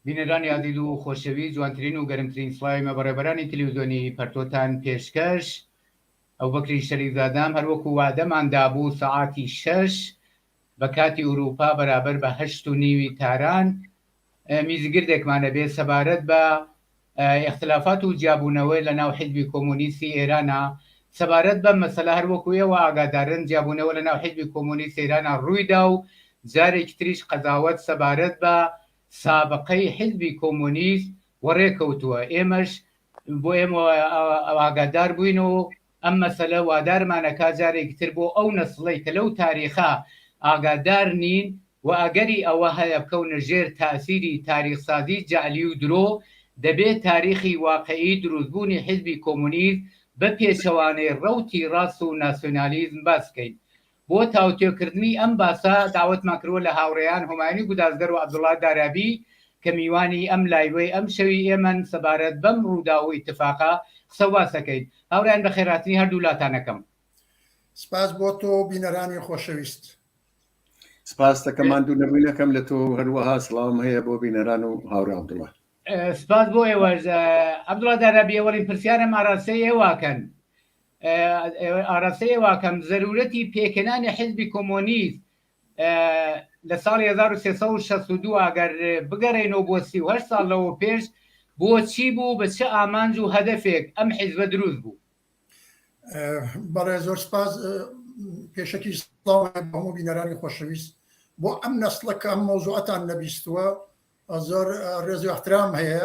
بینەرانی ئازیز و خۆشەوی جوانترین و گەرمترین سڵاوی مە بەڕێبەرانی تلویزیۆنی پەرتۆتان پێشکەش ئەو بەکری شەریف زادام هەروەکو وادەمان دابوو سەعاتی شەش بە کاتی ئوروپا بەرابەر بە هەشت و نیوی تاران میزگردێکمانە بێ سەبارەت بە ئیختلافات و جیابوونەوەی لە ناو حیزبی کۆمۆنیستی ئێرانا سەبارەت بەم مەسەلە هەر وەکو ئێوە ئاگادارن جیابوونەوە لە ناو حیزبی کۆمۆنیستی ئێرانا ڕووی دا و جارێکی تریش قەزاوەت سەبارەت بە سابقەی حیزبی کۆمۆنیست وەڕێ کەوتووە ئێمەش بۆ ئێمە ئاگادار بووین و ئەم مەسەلە وادارمان ئەکات جارێکی تر بۆ ئەو نەسڵەی کە لەو تاریخە ئاگادار نین و ئەگەری ئەوە هەیە بکەونە ژێر تاسیری تاریخسازی جەعلی و درۆ، دەبێت تاریخی واقعی دروستبوونی حیزبی کۆمۆنیست بە پێچەوانەی ڕەوتی ڕاست و ناسیۆنالیزم باس بکەین. بۆ تاوتوێکردنی ئەم باسە داوەتمان کردووە لە هاوڕێیان هۆمایونی گودازگەر و عەبدوڵا دارابی کە میوانی ئەم لایڤەی ئەمشەوی ئێمەن سەبارەت بەم ڕووداو و ئیتفاقە قسە و باس ئەکەین. هاوڕێیان بەخێرهاتنی هەردوو لاتان ئەکەم. سپاس بۆ تۆ و بینەرانی خۆشەویست. سپاس دەکەم ماندوو نەبووی نەکەم لە تۆ و هەروەها سڵاوم هەیە بۆ بینەران و هاوڕێ عەبدوڵا. سپاس بۆ ئێوەش. عەبدوڵا دارابی ئەوەڵین پرسیارم ئاراستەی ئێوە ئەکەن. ئاراستەی ئەوە ئەکەم زەروورەتی پێکهێنانی حیزبی کۆمۆنیست لە ساڵی 1362 ئەگەر بگەڕێنەوە بۆ 38 ساڵ لەوە پێش بۆچی بوو بە چ ئامانج و هەدەفێک ئەم حیزبە دروست بوو بەڵێ زۆر سپاس پێشەکی هەموو بینەرانی خۆشەویست بۆ ئەم نەسڵەکە ئەم مۆزوعەتان نەبیستووە زۆر ڕێزی احترام هەیە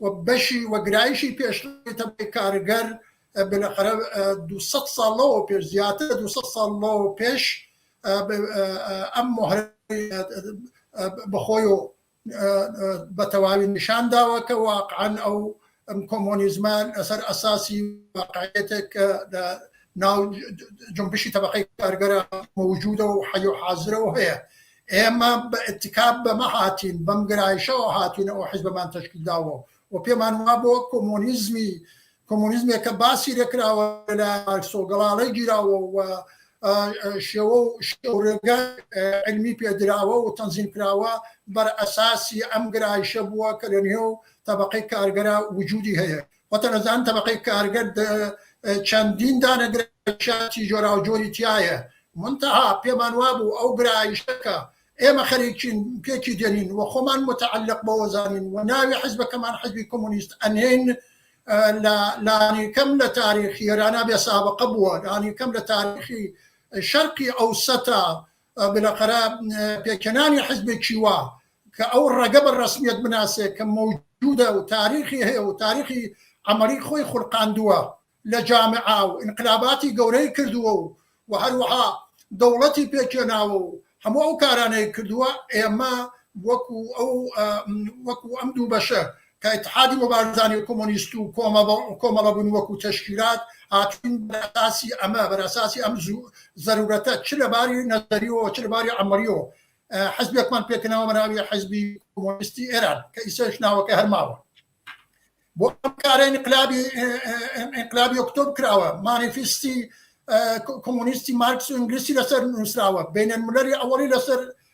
و بەشی و گرایشی پێشمەرگەی تەبەی کارگەر بلەخرە دوو سەد ساڵ لەوە پێش زیاتر لە دوو سەد ساڵ لەوە پێش ئەم مۆهرە بەخۆی و بە تەواوی نیشان داوە کە واقعەن ئەو ئەم کۆمۆنیزمە لەسەر ئەساسی واقعیتێک کە لە ناو جنبشی تەبەقەی کارگەرە موجودە و حەی و حازرە و هەیە ئێمە بە ئتکا بەمە هاتین، بەم گرایشەوە هاتینە ئەو حیزبەمان تەشکیل داوە و پێمان وابووە کۆمۆنیزمی کۆمۆنیزمێک کە باسی لێکراوە لە مارکسۆ گەڵاڵەی گیراوە و شێوە و شێوڕێگە علمی پێدراوە و تەنزیم کراوە بەر ئەساسی ئەم گرایشە بووە کە لە نێو تەبقەی کارگەرا وجودی هەیە وتەلەزان تەبەقەی کارگەر چەندین دانە گرایشاتی جۆراوجۆری تیایە، منتەها پێمان وابوو ئەو گرایشە کە ئێمە خەریکین پێکی دێنین و خۆمان متەعەلەق بەوە زانین و ناوی حزبەکەمان حزبی کۆمۆنیست ئەنێین لە لانیکەم لە تاریخی ئێرانا بێسابقە بووە، لانیکەم لە تاریخی شەرقی ئەوسەتا بلەقەرا پێکهێنانی حزبێکی وا کە ئەو ڕەگە بە ڕەسمیەت بناسێ کە مەوجودە و تاریخی هەیە و تاریخی عملی خۆی خولقاندووە لە جامعە و ئینقلاباتی گەورەی کردووە و و هەروەها دەوڵەتی پێکهێناوە و هەموو ئەو کارانەی کردووە ئێمە وەکو ئەو وەکو ئەم دوو بەشە کە ئیتحادی موبارزانی و کۆمۆنیست و کۆمەڵە بوون وەکوو تەشکیلات هاتوون بەرئەساسی ئەمە بەرئەساسی ئەم زوو زەرورەتە چ لە باری نەزەریەوە چ لە باری عەمەلیەوە حزبێکمان پێکەنەوە بەناوی حزبی کۆمۆنیستی ئێران کە ئیسەش ناوەکە هەرماوە بۆ ئەم کارە انقلابی انقلابی ئۆکتۆب کراوە مانیفیستی کۆمۆنیستی مارکس و ئینگلیسی لەسەر نووسراوە بینەن مولەری ئەوەڵی لەسەر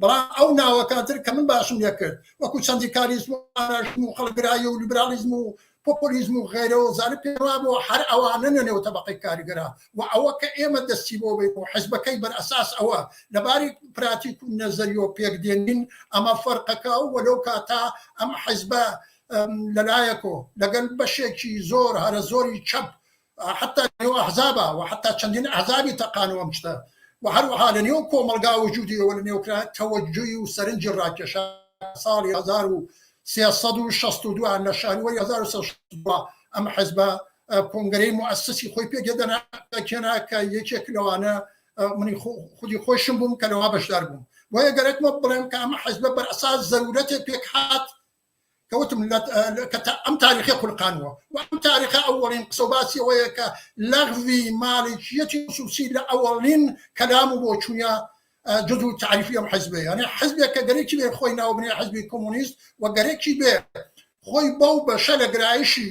بەڵا ئەو ناوەکانتر کە من باشم لەکرد وەکو چەندیکاریزم و ئاراشم و خەڵگرایی و لیبرالیزم و پۆپۆلیزم و غیرەوە زانە پێوا بۆ هەر ئەوانە نەنێو تەبقی کارگەرا و ئەوە کە ئێمە دەستی بۆ بین و حزبەکەی بەر ئەساس ئەوە لەباری پراتیک و نەزەریۆ پێک دێنین ئەمە فەرقەکە و وەلەو کاتا ئەم حزبە لەلایەکۆ لەگەل بەشێکی زۆر هەرە زۆری چەپ حەتا لە نێو ئەحزابا و حەتا چەندین ئەحزابی تەقانەوە ئەم شتە و هەروەها لە نێو کۆمەڵگا وجودی ئەوە لە نێو کرا تەوەجوی و سەرنجی ڕاکێشا ساڵی هەزار و سێ سەد و شەست و دوو لە شانوەری هەزار و سێ سەد و شەست و دوو ئەم حزبە کۆنگرەی موئەسسی خۆی پێ گێدەنا کێنا کە یەکێک لەوانە منی خودی خۆشم بووم کە لەوە بەشدار بووم بۆیە گەرەکمە بڵێم کە ئەمە حزبە بەر ئەساس زەرورەتێ پێک هات کە وتم لە کە تا ئەم تاریخی خولقانوە و ئەم تاریخە ئەوەڵین قسە و باسی ئەوەیە کە لەغوی مالیکیەتی خصوصی لە ئەوەڵین کەلام و بۆچوونە جز و تعریفی ئەم حزبێ یانێ حزبێک کە گەرەکی بێ خۆی ناوبنێ حزبی کۆمونیست و گەرەکی بێ خۆی بەو بەشە لە گرایشی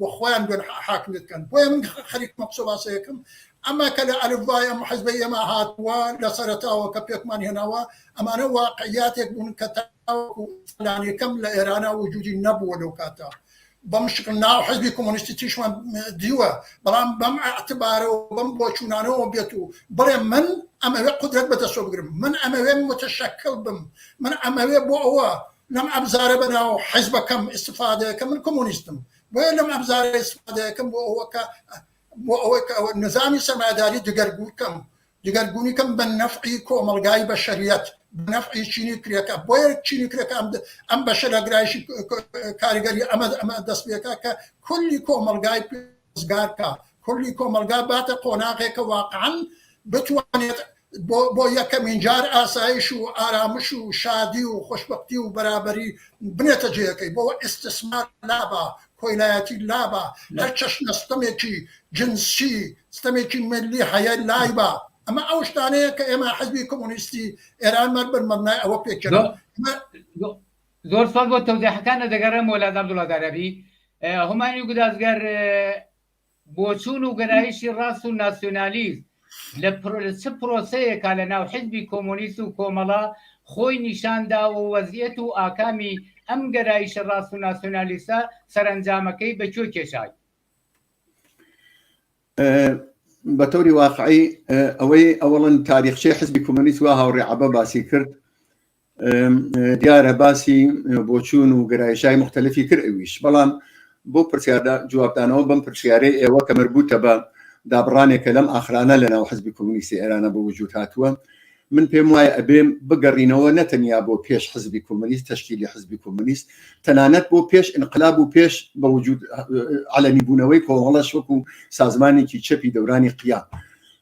و خۆیان بێن حاکمیت کەن بۆیە من خەریکمە قسە باسەیەکم ئەمە کە لە ئەلف بای ئەم حزبەی ئێمە هاتووە لە سەرەتاوە کە پێکمان هێناوە ئەمانە واقعیاتێک بوون کە تاوەکو فلانێکەم لە ئێرانە وجودی نەبووە لەو کاتە بەم شکل ناو حزبی کۆمۆنیستی تیشمان دیوە بەڵام بەم ئەعتبارەوە بەم بۆچوونانەوە بێت و بڵێ من ئەمەوێ قدرەت بەدەستۆ بگرم من ئەمەوێ متشکل بم من ئەمەوێ بۆ ئەوە لەم ئەبزارە بەناو حیزبەکەم ئیستفادە کە من کۆمۆنیستم بۆیە لەم ئەبزارە ئیستفادە کەم بۆ ئەوە کە بۆ ئەوەی کە ئەوە نظامی سەرمایەداری دگەرگوو کەم دگەرگونی کەم بە نەفعی کۆمەڵگای بەشەریەت نەفعی چینی کرێکە بۆیە چینی کرێکە ئەم ئەم بەشەرەگرایشی کاریگەری ئەمە ئەمە دەست پێکا کە کولی کۆمەڵگای ڕزگار بکا، کلی کۆمەڵگا باتە قۆناغێکە واقعەن بتوانێت بۆ بۆ یەکەمین جار ئاسایش و ئارامش و شادی و خۆشبەختی و بەرابەری بنێتە جێیەکەی، بۆ ئیستسمار لابا، کۆیلایەتی لابا، هەر چەشنە ستەمێکی جنسی، ستەمێکی ملی هەیە لایبا. ئەمە ئەو شتانەیە کە ئێمە حزبی کۆمۆنیستی ئێرانمان بەر مەبنای ئەوە پێکێنا. زۆر سوپاس بۆ تەوزیحەکانت دەگەڕێمەوە لە عەبدوڵا دارابی هومانیو گودازگەر بۆچوون و گەرایشی ڕاست و ناسیۆنالیست لە چ پرۆسەیەکا لە ناو حزبی کۆمۆنیست و کۆمەڵە خۆی نیشاندا و وەزیەت و ئاکامی ئەم گەرایشە ڕاست و ناسیۆنالیستە سەرەنجامەکەی بە کوێ کێشای بە تەوری واقعی ئەوەی ئەوڵن تاریخچەی حزبی کۆمۆنیست وا هاوڕێ عبە باسی کرد دیارە باسی بۆچوون و گەرایشای مختلفی تر ئەویش بەڵام بۆ پرسیاردا جوابدانەوە بم پرسیارەی ئێوە کە مربوتە بە دابڕانێکە لەم ئاخرانە لە ناو حزبی کۆمونیستی ئێرانە بۆ وجود هاتووە من پێم وایە ئەبێم بگەڕینەوە نەتەنیا بۆ پێش حزبی کۆمونیست تشکیلی حزبی کۆمونیست تەنانەت بۆ پێش انقلاب و پێش بە وجود علەمی بوونەوەی کۆمەڵەش وەکو سازمانێکی چەپی دەورانی قیام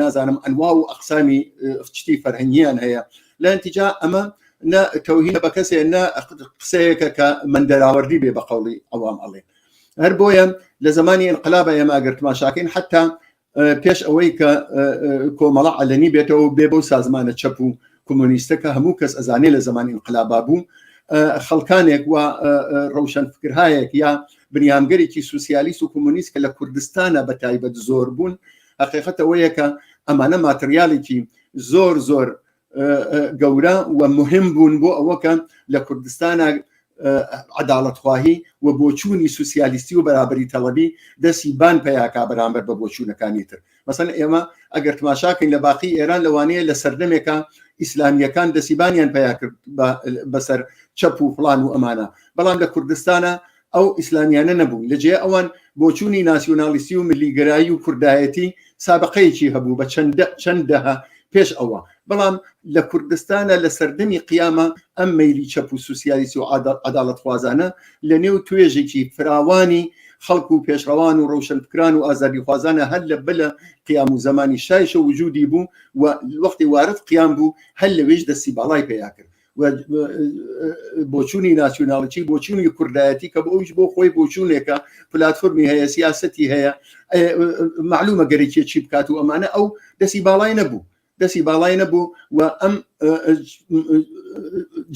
نازانم ئەنوا و ئەقسامی شتی فەرهنگیان هەیە لە انتیجا ئەمە نە تەوهینە بە کەسێ نە قسەیەکە کە من دەراوەردی بێ بە قوڵی ئەوام ئەڵێ هەر بۆیە لە زمانی انقلابە ئێمە ئەگەر تماشاکەین حتا پێش ئەوەی کە کۆمەڵە علەنی بێتەوە بێ بەو سازمانە چەپ و کۆمۆنیستە کە هەموو کەس ئەزانێ لە زەمانی انقلابا بوو خەڵکانێک و ڕەوشەن فکرهایەک یا بنیامگەرێکی سوسیالیست و کۆمۆنیست کە لە کوردستانە بە تایبەت زۆر بوون حقیقەتەوەیە کە ئەمانە ماتریالیکی زۆر زۆر گەورە و مهم بوون بۆ ئەوەکە لە کوردستانە عداڵەتخواهی و بۆچوونی سوسیالیستی و بەرابری تەڵەبی دەسی بان پیاکا بەرامبەر بە بۆچوونەکانی تر مەسەن ئێمە ئەگەر تماشاکەین لە باقی ئێران لەوانەیە لە سەردەمێکە ئیسلامیەکان دەسیبانیان پیا کرد بەسەر چەپ و فلان و ئەمانە بەڵام لە کوردستانە ئەو ئیسلامیانە نەبوون لەجێ ئەوان بۆچوونی ناسیۆنالیستی و ملیگرایی و کوردایەتی سابقەیەکی هەبوو بە چەندە چەندەها پێش ئەوە بەڵام لە کوردستانا لە سەردەمی قیامە ئەم مەیلی چەپ و سوسیالیسی و عەداڵەتخوازانە لە نێو توێژێکی فراوانی خەڵک و پێشڕەوان و ڕەوشەنفکران و ئازادیخوازانە هەر لە بلە قیام و زەمانی شایشە وجودی بوو و وەختی وارد قیام بوو هەر لەوێش دەستی باڵای پەیا کرد بۆچوونی ناسیۆناڵچی بۆچوونی کوردایەتی کە بۆ ئەوش بۆ خۆی بۆچوونێکە پلاتفۆرمی هەیە سیاستی هەیە معلومە گەرەکیە چی بکات و ئەمانە ئەو دەسی باڵای نەبوو دەسی باڵای نەبوو و ئەم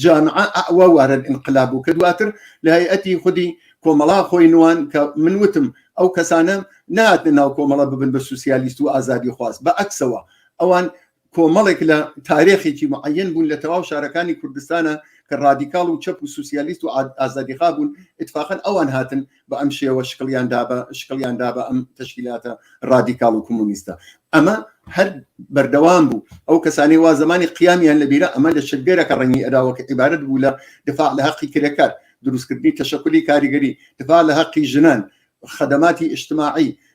جامعە ئەوە وارد انقلاب بوو کە دواتر لە هەیئەتی خودی کۆمەڵا خۆی نوان کە من وتم ئەو کەسانە ناتە ناو کۆمەڵە ببن بە سوسیالیست و ئازادی خواست بە ئەکسەوە ئەوان کۆمەڵێک لە تارێخێکی معەن بوون لە تەواو شارەکانی کوردستانە کە ڕادیکاڵ و چەپ و سوسیالیست و ئازادیخا بوون اتفاقن ئەوان هاتن بە ئەم شێوە شکڵیان دابە شکڵیان دابە ئەم تەشکیلاتە ڕادیکاڵ و کۆمونیستە ئەمە هەر بەردەوام بوو ئەو کەسانی وا زمانی قیامیان لەبیرە ئەمە لە شگەرەکە ڕەنگی ئەداوەکە عیبارەت بوو لە دفاع لە حەقی کرێکار دروستکردنی تەشەکلی کاریگەری دفاع لە حەقی ژنان خدماتی اجتماعی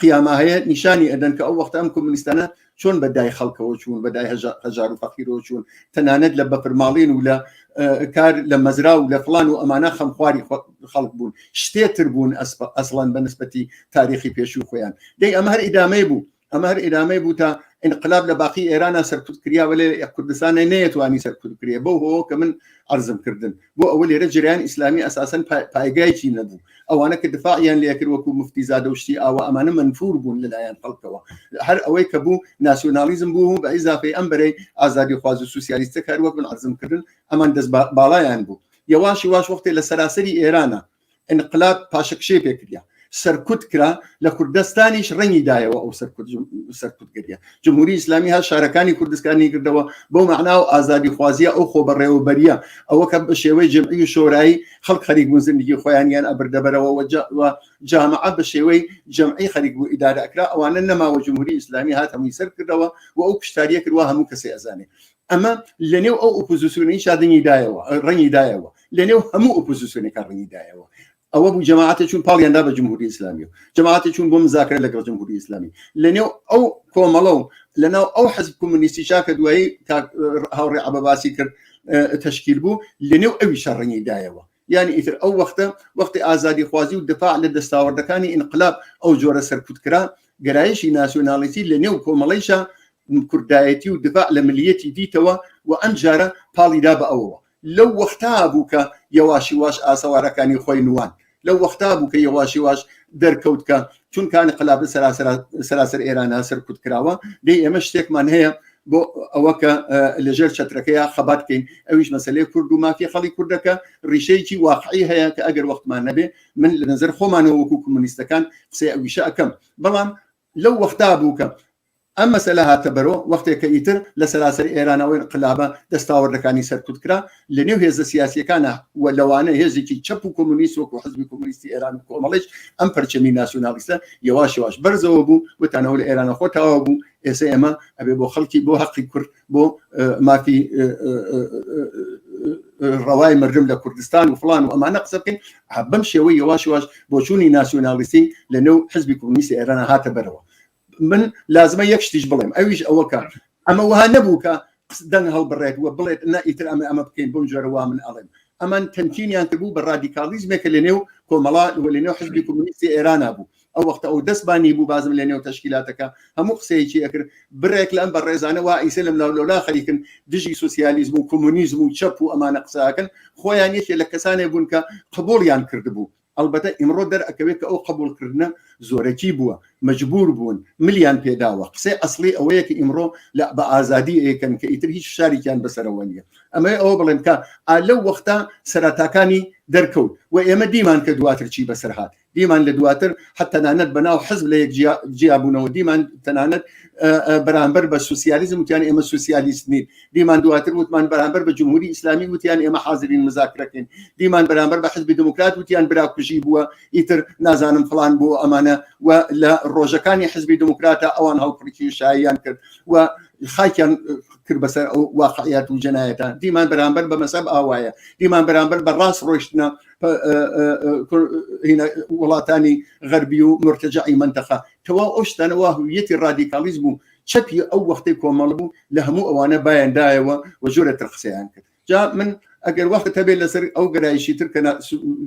قیامە هەیە نیشانی ئەدەن کە ئەو وەختە ئەم کۆمونیستانە چۆن بەدای خەڵکەوە چوون بەدای هەژار و فەقیرەوە چوون تەنانەت لە بەفرماڵین و لە کار لە مەزرا و لە فلان و ئەمانە خەمخواری خەڵک بوون شتێتر بوون ئەسڵەن بە نسبەتی تاریخی پێشوو خۆیان دەی ئەمە هەر ئیدامەی بوو ئەمە هەر ئێرامەی بوو تا انقلاب لە باقی ئێرانە سەرکوت کریاوە لێ کوردستانە نەیەتوانی سەرکوت کرێ بەو هۆ کە من ئەرزم کردن بۆ ئەوە لێرە جریان ئیسلامی ئەساسەن پایگایکی نەبوو ئەوانە کە دفاعیان لەکرد وەکو مفتی زادەشتی ئاوە ئەمانە منفور بوون لەلایەن خەڵکەوە هەر ئەوەی کە بوو ناسیۆنالیزم بوو بە ئیزافی ئەم بەرەی ئازادی خوازی سوسیالیستە کار وەک من عزم کردن ئەمان دەست باڵایان بوو یەواشی واش وەختێ لە سەراسەری ئێرانە انقلاب پاشەکشەی پێکریا سەرکوت کرا لە کوردستانیش ڕەنگی دایەوە ئەو سەرکوتگەریە جمهوری ئیسلامی هە شارەکانی کوردستانی کردەوە بۆ معنا و ئازادی خوازیە ئەو خۆ بەڕێوەبەریە ئەوە کە بە شێوەی جمعی و شۆرایی خەڵک خەریک بوون زندگی خۆیانیان ئەبردەبەرەوە و جامعە بە شێوەی جمعی خەریک بوو ئیدارە ئەکرا ئەوانە نەماوە جمهوری ئیسلامی هات هەمووی سەر کردەوە و ئەو کشتاریە کردوە هەموو کەسی ئەزانێ ئەمە لەنێو ئەو ئۆپۆزیسیۆنی شادنی دایەوە ڕەنگی دایەوە لەنێو هەموو ئۆپۆزیسیۆنەکە ڕەنگی دایەوە ئەوە بوو جەماعاتە چون پاڵیاندا بە جمهوری ئسلامی و جەماعاتە چون بۆ مزاکرە لەگەڵ جمهوری ئسلامی لەنێو ئەو کۆمەڵە و لەناو ئەو حەزب کۆمونیستی چاکە دوایی هاوڕێ عبە باسی کرد تشکیل بوو لەنێو ئەوی شەڕنی دایەوە یانی ئیتر ئەو وەختە وەختی ئازادی خوازی و دفاع لە دەستاوەردەکانی ئینقلاب ئەو جۆرە سەرکوت کرا گەرایشی ناسیۆنالیستی لە نێو کۆمەڵیشە کوردایەتی و دفاع لە ملیەتی دیتەوە و ئەم جارە پاڵیدا بە ئەوەوە لەو وەختا بوو کە یەواشی واش ئاسەوارەکانی خۆی نوان لەو وەختا بوو کە یەواشی واش دەرکەوت کە چونکە انقلاب سەراسەر سەراسەر ئێرانە سەرکوت کراوە دەی ئێمە شتێکمان هەیە بۆ ئەوە کە لەژێر چەترەکەیە خەبات بکەین ئەویش مەسلەی کورد و مافی خەڵی کوردەکە ڕیشەیەکی واقعی هەیە کە ئەگەر وەختمان نەبێ من لە نظر خۆمانەوە وەکو کمونیستەکان قسەی ئەویشە ئەەکەم بەڵام لەو وەختا بوو کە ئەم مەسەلە هاتە بەرۆ وەختێک کە ئیتر لە سەراسەر ئێرانەوە ئینقلابە دەستاوەردەکانی سەرکوت کرا، لە نێو هێزە سیاسییەکانا و لەوانە هێزێکی چەپ و کۆمۆنیست وەکوو حزبی کۆمۆنیستی ئێران و کۆمەڵیش ئەم پەرچەمی ناسیونالیستە یەواش یەواش بەرزەوە بوو وتان ئەوە لە ئێرانە خۆ تاوا بوو ئێسە ئێمە ئەبێ بۆ خەڵکی بۆ هەقی کورد بۆ مافی ڕەوای مردم لە کوردستان و فلان و ئەمانە قسە بکەین بەم شێوەی یەواش یەواش بۆچوونی ناسیونالیستی لە نێو حزبی کۆمۆنیستی ئێرانە هاتە بەرەوە من لازمە یەک شتیش بڵێم ئەویش ئەوە کار ئەمە وها نەبوو کە دەنگ هەڵبڕێت وە بڵێت نە ئیتر ئەمە ئەمە بکەین بۆم جۆرەوە من ئەڵێم ئەمان تەمکینیان کردبوو بە ڕادیکاڵیزمێکە لە نێو کۆمەڵا وە لە نێو حزبی کۆمونیستی ئێرانە بوو ئەو وەختە ئەو دەستبانی بوو بازم لە نێو تشکیلاتەکە هەموو قسەیەکی ئەکرد برێک لەم بە ڕێزانەوە ئیسە لەم لاو لەولا خەریکن دژی سوسیالیزم و کۆمونیزم و چەپ و ئەمانە قساکەن خۆیان یەکێ لە کەسانێ بوون کە قبولیان کردبوو ئەڵبەتە ئیمڕۆ دەرئەکەوێ کە ئەو قەبووڵکردنە زۆرەکی بووە، مەجبوور بوون، ملیان پێ داوە. قسەی ئەسڵی ئەوەیە کە ئیمڕۆ لە بە ئازادی ئەیەکەن کە ئیتر هیچ فشارێکیان بە سەرەوە نییە. ئەمەوێ ئەوە بڵێم کە ئا لەو وەختە سەرەتاکانی دەرکەوت و ئێمە دیمان کە دواتر چی بە سەر هات. دیمان لە دواتر حە تەنانەت بە ناو حزب لە یەک جیا بوونەوە، دیمان تەنانەت بەرانبەر بە سوسیالیزم وتیان ئێمە سوسیالیست نین. دیمان دواتر وتمان بەرامبەر بە جمهوری ئیسلامی وتیان ئێمە حاضرین مزاکرەکەین دیمان بەرامبەر بە حزبی دموکرات وتیان براکوژی بووە ئیتر نازانم فلان بۆ ئەمانە و لە ڕۆژەکانی حزبی دموکراتە ئەوان هەڵپڕکی شایان کرد و خاکیان کرد بەسەر ئەو واقعیات و جەنایەتە دیمان بەرامبەر بە مەسەب ئاوایە دیمان بەرامبەر بە ڕاست ڕۆشتنە وڵاتانی غەربی و مرتەجعی منتەخە تەوا ئەو شتانەوە هویەتی ڕادیکالیزم و چەپی ئەو وەختەی کۆمەڵ بوو لە هەموو ئەوانە بایان دایەوە و زۆرە تر قسەیان کرد جا من ئەگەر وەخت هەبێت لەسەر ئەو گەرایشی تر کە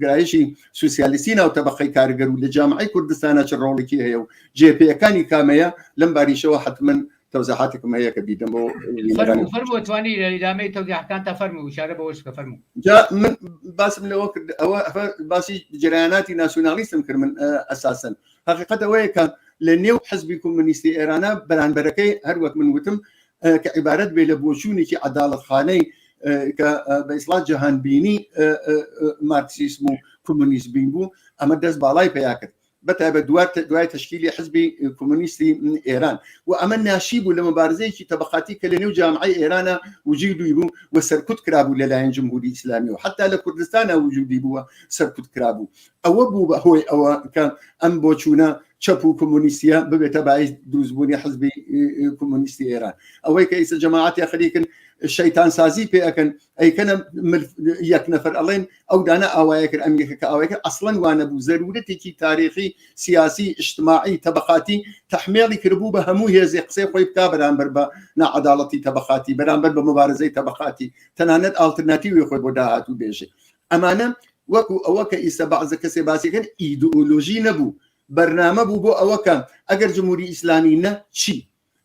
گرایشی سوسیالیستی ناو تەبقی کارگەر و لە جامعی کوردستانە چ ڕۆڵێکی هەیە و جێپیەکانی کامەیە لەم باریشەوە حتمما تەوزەحاتێکم هەیە کە بیدەم بۆ فەرموتوانی لە ئیدامەی تەوزیحکان تا فەرمو وشارە بە وەشکە فەرمو جا من باسم لەوە کرد ئەوە باسی جرایاناتی ناسیۆنالیستم کرد من ئەساسن حقیقت ئەوەیە کە لە نێو حزبی کۆمەنیستی ئێرانە بەرانبەرەکەی هەروەک من وتم کە عیبارەت بێ لە بۆچوونێکی عداڵتخانەی کە بە ئیسڵات جەهانبینی مارکسیسم و کۆمۆنیست بین بوو ئەمە دەست باڵای پیا کرد بەتابە دوات دوای تشکیلی حزبی کۆمۆنیستی ئێران و ئەمە ناشی بوو لە مبارزەیەکی تەبقاتی کە لە نێو جامعی ئێرانە وجی دوی بوو و سەرکوت کرابوو لەلایەن جمهوری ئیسلامی و حتا لە کوردستانە وجودی بووە سەرکوت کرابوو ئەوە بوو بە هۆی ئەوە کە ئەم بۆ چوونە چەپ و کۆمونیسیە ببێتە باعیس دروستبوونی حزبی کۆمونیستی ئێران ئەوەی کە ئیسە جەماعات یا خەریکن شەیتان سازی پێەکەن ئەیکەنە یەک نەفەر ئەڵێن ئەو دانە ئاوایە کرد ئەمیەکە کە ئاوایکە ئەسڵەن وانە بوو زەرورەتێکی تاریخی سیاسی ئشتماعی تەبقاتی تحمێڵی کردبوو بە هەموو هێزی قسەی خۆی بکا بەرامبەر بە ناعاداڵەتی تەبقاتی بەرامبەر بە مبارزەی تەبقاتی تەنانەت ئالترناتیوی خۆی بۆ داهاتوو بێژێ ئەمانە وەکو ئەوە کە ئیستە بەعزە کەسێ باسیەکەن ئیدئۆلۆژی نەبوو بەرنامە بوو بۆ ئەوە کە ئەگەر جموری ئیسلامی نە چی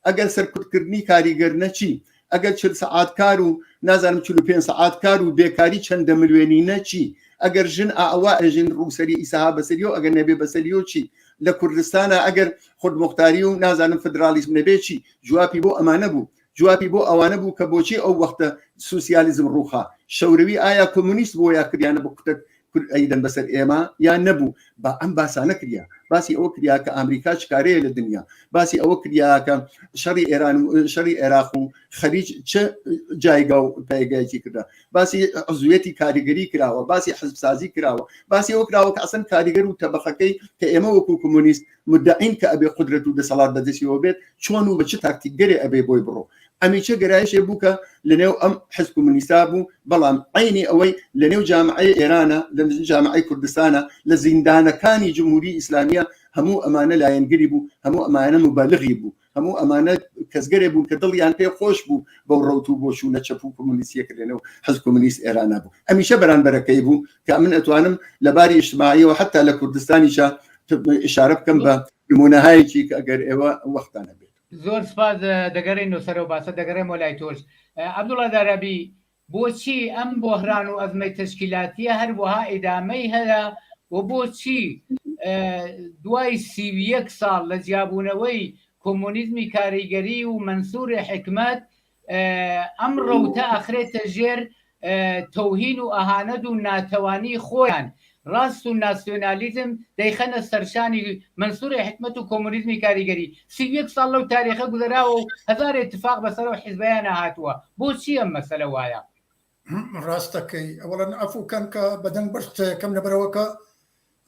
ئەگەر سەرکوتکردنی کاریگەر نە چی ئەگەر چل سەعات کار و نازانم چلو پێ سەعات کار و بێکاری چەندە ملوێنی نە چی ئەگەر ژن ئاوا ئەژن ڕووسری ئیسەها بەسەریۆ ئەگەر نەبێ بەسەریۆ چی لە کوردستانە ئەگەر خودمختاری و نازانم فدرالیسم نەبێ چی جوابی بۆ ئەمانە بوو جوابی بۆ ئەوانە بوو کە بۆچی ئەو وەختە سوسیالیزم ڕووخا، شەوروی ئایا کۆمۆنیست بووە یا کریانە بە کوتەک کورد ئەیدەن بەسەر ئێمە یان نەبوو، با ئەم باسا نەکریا، باسی ئەوە کریا کە ئامریکا چ کارەیە لە دنیا، باسی ئەوە کریا کە شەڕی ئێران و شەڕی عێراق و خەلیج چ جایگا و پایگایەکی کردە، باسی عزویەتی کاریگەری کراوە، باسی حزب سازی کراوە، باسی ئەوە کراوە کە ئەسڵەن کاریگەر و تەبەخەکەی کە ئێمە وەکوو کۆمۆنیست مدعین کە ئەبێ قودرەت و دەسەڵات بەدەستیەوە بێت چۆن و بە چ تاکتیکگەرێ ئەبێ بۆی بڕۆ ئەمیچە گەرایشێ بوو کە لەنێو ئەم حزب کمونیستا بوو بەڵام عینی ئەوەی لەنێو جامعی ئێرانە لە جامعی کوردستانە لە زیندانەکانی جمهوری ئیسلامیە هەموو ئەمانە لایەنگری بوو هەموو ئەمانە مبالغی بوو هەموو ئەمانە کەسگەرێ بوون کە دڵیان پێ خۆش بوو بەو ڕوت و بۆچوونە چەپ و کۆمونیسیە کرێنە و حز کۆمونیست ئێرانە بوو ئەمیشە بەرانبەرەکەی بوو کە من ئەتوانم لە باری ئیشتماعیەوە حتا لە کوردستانیشە ئشارە بکەم بە نمونەهایەکی کە ئەگەر ئێوە وەختانە بێت زۆر سپاس دەگەڕێن و سەرەوە باسە دەگەڕێمەوە لای تۆش عبدوڵا دارابی بۆچی ئەم بۆهران و ئەزمەی تەشکیلاتیە هەروەها ئیدامەی هەیە و بۆچی دوای سی و یەک ساڵ لە جیابوونەوەی کۆمۆنیزمی کاریگەری و مەنسوری حکمەت ئەم ڕەوتە ئەخرێتە ژێر تەوهین و ئەهانەت و ناتەوانی خۆیان ڕاست و ناسیۆنالیزم دەیخەنە سەرشانی مەنسوری حیکمەت و کۆمۆنیزمی کاریگەری سی و یەک ساڵ لەو تاریخە گوزەراوە و هەزار ئیتفاق بەسەر ئەو حیزبەیانا هاتووە، بۆچی ئەم مەسەلە وایە؟ ڕاست دەکەی ئەوەڵا عەفو کەن کە بە دەنگ بەش قسەیەکەم لەبەرەوە کە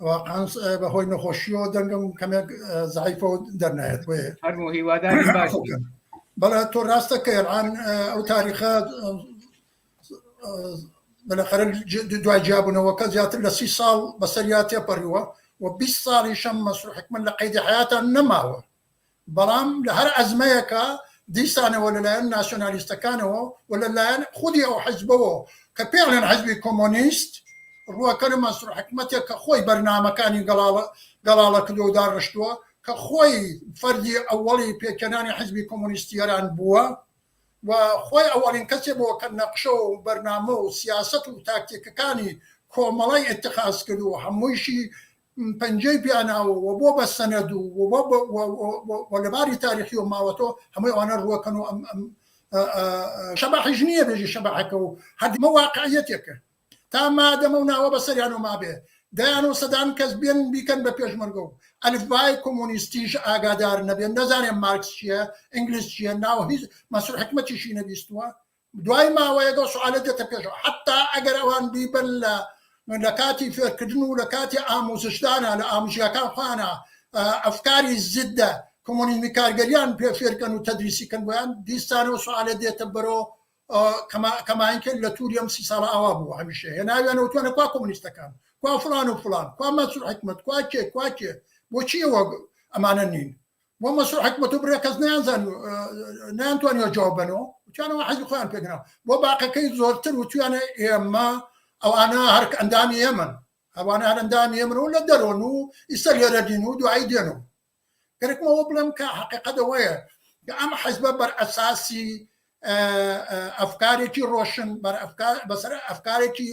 واقعا بە هۆی نەخۆشیەوە دەنگم کەمێک زعیفە و دەرنایەت بۆ هەرمو هیوادار باشکەن بەڵێ تۆ ڕاستەکەی ئەڵان ئەو تاریخە بەلەخەرە دوای جیابوونەوەکە زیاتر لە سی ساڵ بەسەریا تێپەڕیوە و 20 ساڵیشم مەسرور حکمت لە قەیدی حیاتان نەماوە بەڵام لە هەر ئەزمەیەکە دیسانەوە لەلایەن ناسیۆنالیستەکانەوە و لەلایەن خودی ئەو حزبەوە کە پێڵێن حزبی کۆمۆنیست ڕوەکە لە مەسرور حکمتێک کە خۆی بەرنمەکانی گەڵاڵە گەڵاڵە کردو داڕشتووە کە خۆی فەرجی ئەوەڵی پێکەنانی حزبی کۆمۆنیستی ئێران بووە و خۆی ئەوەڵین کەسێ بۆ کە نەقشە و بەرنامە و سیاسەت و تاکتیکەکانی کۆمەڵەی ئیتخاز کرد و هەموویشی پەنجەی پیا ناوە و بۆ بە سەنەد و و لە باری تاریخیەوە ماوەتەوە هەمووی ئەوانە ڕووەکەن و ئەم شەباحیش نییە بێژی شەباحەکە و هەردمە واقعیەتێکە. تا مادەم ئەو ناوە بەسەریانەوە مابێ دەیان و سەدان کەس بێن بیکەن بە پێشمەرگە و ئەلفبای کۆمۆنیستیش ئاگادار نەبێن نەزانێن مارکس چییە ئینگلیس چییە ناو هیچ مەسوول حکمەتیشی نەبیستووە دوای ماوەیەک ئەو سوالە دێتە پێشەوە حتا ئەگەر ئەوان بیبن لە لە کاتی فێرکردن و لە کاتی ئاموزشدانە لە ئامژیەکان خۆیانە ئەفکاری زدە کۆمۆنیزمی کارگەریان پێ فێرکەن و تەدریسی کەن بۆیان دیسانەوە سوالە دێتە بەرەوە کەماین کرد لە توری ئەم سی ساڵە ئاوا بوو هەمیشە هێناویانە وتوانە کوا کۆمونیستەکان کوا فلان و فلان کوا مەسور حکمت کوا کێ کوا کێ بۆچی ئەوە ئەمانە نین بۆ مەسور حکمت و برێ کەس نیانزان نیانتوانیەوە جواب بنەوە وتیانەوە حەزی خۆیان پێگرا بۆ باقەکەی زۆرتر وتویانە ئێمە ئەوانە هەرک ئەندامی ئێمن ئەوانە هەر ئەندامی ئێمن و لە دەرۆن و ئیسەر لێرە دین و دوایی دێن و گەرەکم ئەوە بڵێم کە حقیقەت ئەوەیە کە ئەم حەزبە بەر ئەساسی ئەفکارێکی ڕۆشن بەسەر ئەفکارێکی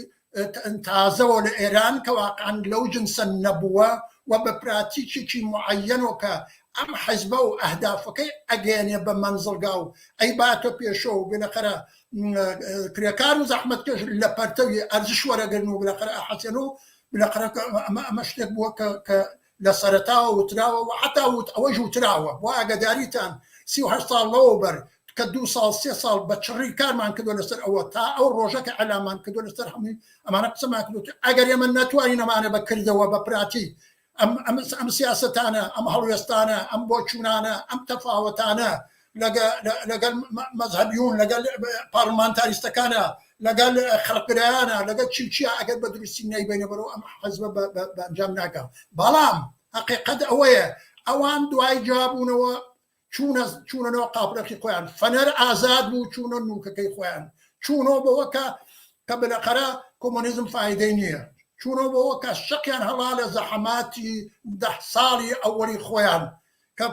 تازەوە لە ئێران کە واقعان لەو جنسە نەبووە و بە پراتیکێکی معەنەوە کە ئەم حەزبە و ئەهدافەکەی ئەگەێنێ بە منزڵگا و ئەی باتە پێشەوە و بلەقەرە کرێکار و زەحمت کەش لە پەرتەوی ئەرزش وەرەگرن و بلەقەر ئەحەسێن و بلەقەرە ئەمە ئەمە شتێک بووە کە لە سەرەتاوە وتراوە و حەتا وت ئەوەش وتراوە بۆ ئاگەداریتان سی و هەشت ساڵ لەوە بەر کە دوو ساڵ سێ ساڵ بە چڕی کارمان کردوە لەسەر ئەوە تا ئەو ڕۆژە کە ئیعلامان کردوە لەسەر هەمووی ئەمانە قسەمان کردوە کە ئەگەر ئێمە نەتوانین ئەمانە بە کردەوە بە پراتی ئەم ئەم ئەم سیاسەتانە ئەم هەڵوێستانە ئەم بۆچوونانە ئەم تەفاوەتانە لەگەڵ مەزهبیون لەگەڵ پارلمانتاریستەکانە لەگەڵ خەڵکرایانە لەگەڵ چی چیا ئەگەر بە دروستی نایبێنە بەرەوە ئەم حەزبە بەنجام ناکە بەڵام حقیقەت ئەوەیە ئەوان دوای جابوونەوە چوونە چوونەوە قاپرەخی خۆیان فەنەر ئازاد بوو چوونە نوکەکەی خۆیان چوونەوە بەوەکە کە بلەقەرە کۆمۆنیزم فیدەی نییە چوونەوە بەوە کە شەقیان هەڵا لە زەحماتی ده ساڵی ئەوەی خۆیان کە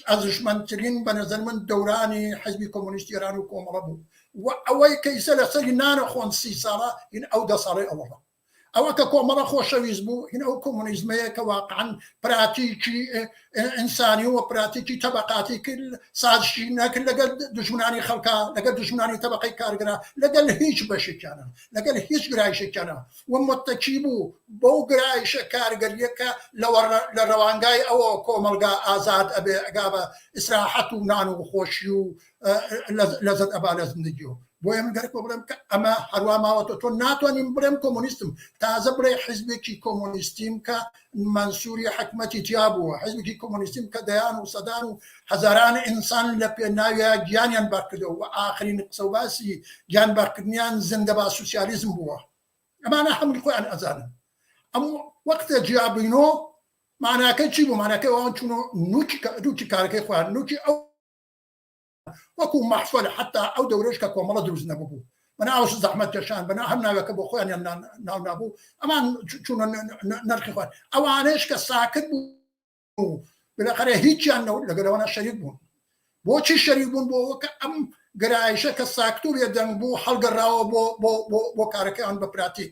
ئەرزشمەندترین بە نەزەر من دەورانی حیزبی کۆمۆنیستی ئێران و کۆمەڵە بوو و ئەوەی کە ئیسە لە سەری نانەخۆن سی ساڵە هین ئەو دە ساڵی ئەوەڵە ئەوە کە کۆمەڵە خۆشەویست بوو هین ئەو کۆمۆنیزمەیە کە واقعان پراتیکی ئینسانی و پراتیکی تەبقاتی کرد سازشی نەکرد لەگەل دژمنانی خەڵکە لەگەل دژمنانی تەبقەی کارگرا لەگەل هیچ بەشێکیانە لەگەل هیچ گرایشێکیانە و متەکی بوو بەو گرایشە کارگەریە کە لە رەوانگای ئەوە کۆمەڵگا ئازاد ئەبێ ئەگا بە ئیسراحەت و نان و خۆشی و لەزەت ئەبا لە زندگی و بۆیە من گەرەکۆ بڵێم کە ئەمە هەروا ماوەتەوە تۆ ناتوانی بڵێم کۆمۆنیستم تازە بڵێ حیزبێکی کۆمۆنیستیم کە مەنسوری حکمەتی تیا بووە حزبی کۆمۆنیستیم کە دەیان و سەدان و هەزاران ئینسان لە پێناویا گیانیان بەرکردەوە و ئاخرین قسە و باسی گیان بەرکردنیان زندە با سوسیالیزم بووە ئەمانە هەمووی خۆیان ئەزانن ئەم وەختە جیابینۆ ماناکە چی بوو ماناکە ئەوان چونۆ نوکی نوکی کارەکەی خۆیان نوکی ئەو وەکو مەحفەل حتا ئەو دەورەش کە کۆمەڵە دروست نەببوو بەناوش زەحمەت کەشان بەنا هەم ناوەکە بۆ خۆیان ناو نابوو ئەمان چونە نرخی خوارد ئەوانش کە ساکت بوو بلەخەرە هیچیان نەوت لەگەلەوەە شەریک بوون بۆچی شەریک بوون بۆ وەکە ئەم گرایشە کە ساکتور لە دەنگ بوو هەڵگەڕاوە بۆ بۆ کارەکەیان بە پراتیک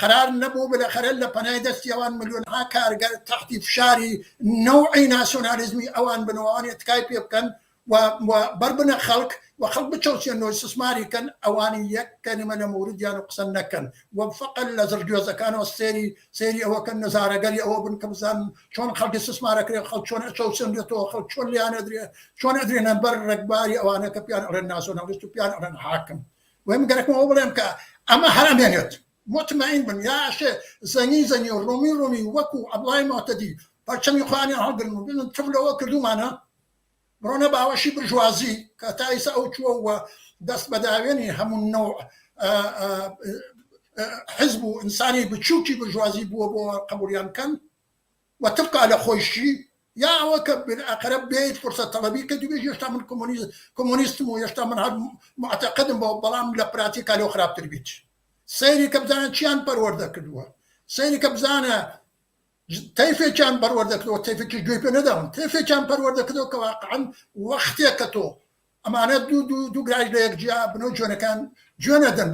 قەرار نەبوو بلەخەرە لە پەنای دەستی ئەوان ملیۆنها کارگەر تەحتی فشاری نەوعی ناسیۆنالیزمی ئەوان بن و ئەوانێ تکای پێ بکەن و بەر بنە خەڵک و خەڵک بچەوسێنەوە و سسماری کەن ئەوانی یەک کەلیمە لە موردیان و قسە نەکەن و فەقەت لە زڕگوێزەکانەوە سێری سێری ئەوە کەن نەزارەگەری ئەوە بن کە بزانن چۆن خەڵکی سسمارەکرێ خەڵک چۆن ئەچەوسێنرێتەوە خەڵک چۆن لیانەدرێ چۆن ئەدرێنە بەر ڕێکباری ئەوانە کە پیان ئەڵێن ناسیۆنالیست و پیان ئەڵێن حاکم وەی من گەرەکمە ئەوە بڵێم کە ئەمە هەر ئەمێنێت مطمئن بن یا ئەشێ زەنی زەنی و ڕۆمی ڕۆمی وەکو عەبڵای مۆتەدی پەرچەمی خۆیانیان هەڵگرن و بڵێن تف لەوە کردوومانە بڕۆنە باوەشی برژوازی کە تا ئیسە ئەو چووە و دەست بە داوێنی هەموو نەوع حزب و ئینسانی بچووکی برژوازی بووە بۆ قبوڵیان کەن و تبقا لە خۆیشی یا ئەوە کە بن ئەقرەب بێیت فرسەت تەڵەبی کە دوبێژی هێشتا من کۆمۆنیست کۆمۆنیستم و هێشتا من هەر معتەقدم بەوە بەڵام لە پراتیکا لەو خراپتر بیت سەیری کە بزانە چیان پەروەردە کردووە سەیری کە بزانە تەیفێکیان پەروەردە کردەوە تەیفێکیش گوێی پێ نەداون تەیفێکیان پەروەردە کردەوە کە واقعا وەختێک کە تۆ ئەمانە دوو دوو دوو گرایش لە یەک جیا بنەو جوێنەکان جوێن نەدەن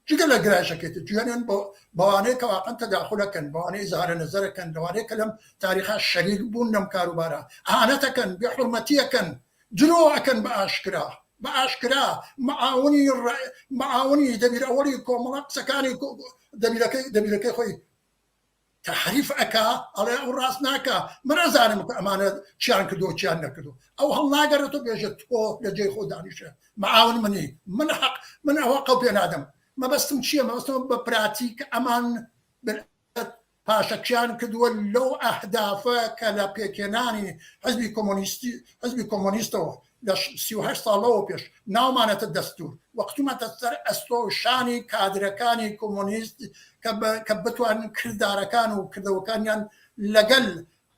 جگە لە گرایشەکەێت جوێنن بۆ بەوانەیە کە واقعن تەداخلەکەن بەوانەی زارە نەزەرەکەن لەوانەیە کە لەم تاریخا شەریک بوون لەم کاروبارە ئاەتەکەن بێ حرمەتیەکەن درۆ ئەکەن بە ئاشکرا بە ئاشکرا معاونی معاونی دەبیر ئەوەی کۆمەڵە قسەکانی دەبیرەکەی دەبیرەکەی خۆی تەحریف ئەکا ئەڵێ ئەو ڕاست ناکا من ئەزانم کە ئەمانە چیان کردوە چیان نەکردوە ئەو هەڵناگەڕێتۆ بێژێت تۆ لە جێی خۆ دانیشە معاون منی من حەق من ئەوە قەڵ پێ نادەم مەبەستم چییە مەبەستەوە بە پراتیک ئەمان پاشەکشیان کردووە لەو ئەهدافە کە لە پێکێنانی حزبی کۆمۆنیستی حزبی کۆمۆنیستەوە لە سی و هەشت ساڵ لەوە پێش ناومانەتە دەستوور و کتومەتە سەر ئەستۆ و شانی کادرەکانی کۆمۆنیست کە بتوانن کردارەکان و کردەوەکانیان لەگەل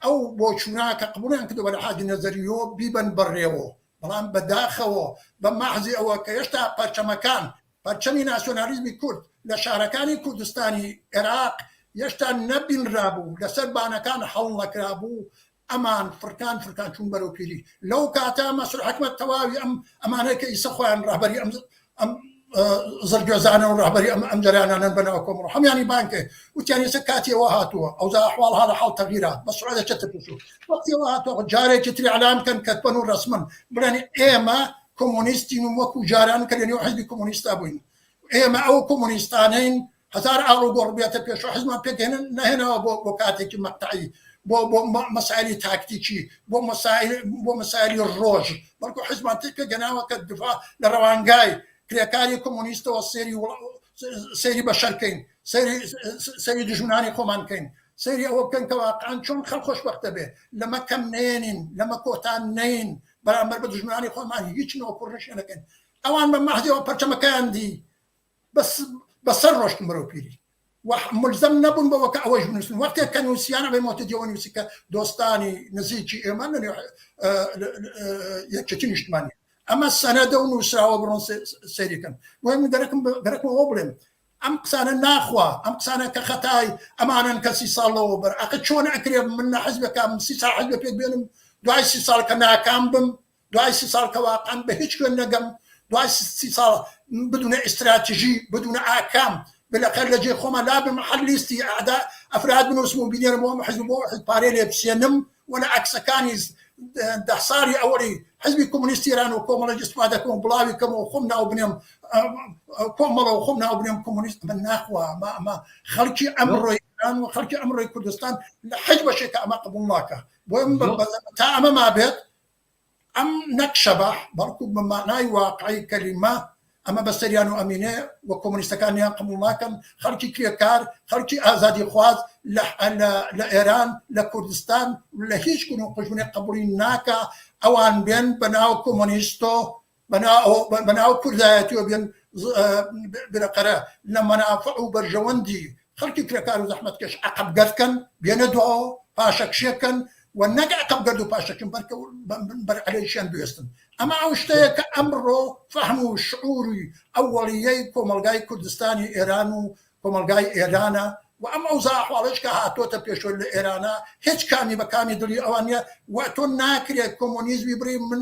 ئەو بۆچوونە کە قبوڵیان کردووە لە حاجی نەزەریۆ بیبەن بەڕێوە بەڵام بە داخەوە بە مەحزی ئەوە کە هێشتا پەرچەمەکان پەرچەمی ناسیۆنالیزمی کورد لە شارەکانی کوردستانی ئێراق هێشتا نەبینرابوو لەسەر بانەکان هەڵنەکرابوو ئەمان فرکان فرکان چوون بەرەو پیری لەو کاتە مەسرور حکمەت تەواوی ئەم ئەمانەی کە ئیسە خۆیان ڕەهبەری ئەم ئەم زەرگوێزانە و ڕەهبەری ئەم ئەم جەرانانەن بەنەوە کۆمڕ هەمیانی بانکێ وتیان ئێستا کاتیەوە هاتووە ئەوزا ئەحواڵ هاڵە حاڵ تەغیرات بە سرعە چەتە پێشو وەختیەوە هاتووە جارێکی تری ئەلان بکەن کەتبەن و ڕسمن بڵێن ئێمە کۆمۆنیستین و وەکو جاران کە لەنێو حزبی کۆمۆنیستا بووین ئێمە ئەو کۆمۆنیستانین هەزار ئاڵوگۆڕ بێتە پێشەوە حیزبمان پێک هێنن نەهێناوە بۆ بۆ کاتێکی مەقتەعی بۆ بۆ مەسائلی تاکتیکی بۆ مەسائل بۆ مەسائلی ڕۆژ بەڵکو حیزبمان تێک پێگەناوە کە دفاع لە ڕەوانگای کرێکاری کۆمۆنیستەوە سێری سێری بەشەر کەین سەری دژمنانی خۆمان کەین سەری ئەوە بکەن کە واقعان چۆن خەڵ خۆشببختە بێ لەمە کەم نێنین لەمە کۆتان نین بەرامبەر بە دژمنانی خۆمان هیچ نۆکوڕشێنەکەن ئەوان بە مەحدەوە پەرچەمەکەیان دی بەس بە سەر ڕۆشتم بەرەو پیری و ملزم نەبوون بەوە کە ئەوەش بنووسن وەختێک کە نووسیانە بە مۆتەدیەوە نووسی کە دۆستانی نزیکی ئێمە لە یەکێتی نیشتمانی ئەمە سەنەدە و نووسراوە بڕۆن سەیرەکەن بۆ من دەرەکم دەرەکەوە بڵێم ئەم قسانە ناخوا ئەم قسانە کە خەتای ئەمانن کەسی ساڵەوە بەر ئەقە چۆن ئەکرێ من لە حزبەکەم سی ساحل بە پێک بێنم دوای سی ساڵ کە ناکام بم دوای سی ساڵ کە واقعەن بە هیچ کوێ نەگەم دوای سی ساڵ بدونە ئیستراتژی بدونە ئاکام بلەخێر لە جێ خۆمە لابم هەر لیستی ئەعدا ئەفراد بنووسم و بینێرم بۆ حزب بۆ حزب پارێ لێ بسێنم و لە عکسەکانی دە ساڵی ئەوەی حزبی کۆمونیستی ئێران و کۆمەڵە استفادە کەم و بڵاوی کەم و خۆم ناو بنێم کۆمەڵە و خۆم ناو بنێم کۆمونیست من ناخوا ئەمە ئەمە خەڵکی ئەمڕۆی ئێران و خەڵکی ئەمڕۆی کوردستان لە حج بەشێکە ئەمە قبول ناکە بۆ تا ئەمە ما بێت ئەم نەک شەباح بەڵکو بە مانای واقعی کەلیمە ئەمە بەسەریان و ئەمینێ و کۆمۆنیستەکانیان قبوڵ ناکەن خەڵکی کرێکار خەڵکی ئازادی خواز لە ئێران لە کوردستان لە هیچ گون و قوژمێک قبوڵی ناکا ئەوان بێن بە ناو کۆمۆنیست و بەناو کوردایەتیەوە بێن برقەرە لە مەنافع و بەرژەوەندی خەڵکی کرێکار و زەحمەتکێش عەقبگەرد کەن بێنە دواوە پاشەکشێ کەن و نەک عەقبگەرد و پاشەکشن بەلکە بەر عەلەیشیان بوێستن ئەمە ئەو شتەیە کە ئەمڕۆ فەهم و شعوری ئەوەڵیەی کۆمەڵگای کوردستانی ئێران و کۆمەڵگای ئێرانە و ئەم ئەوزا ئەحواڵەش کە هاتۆتە پێشۆ لە ئێرانە هێچ کامی بە کامی دڵی ئەوان نیە و تۆ ناکرێت کۆمۆنیزمی بڕی من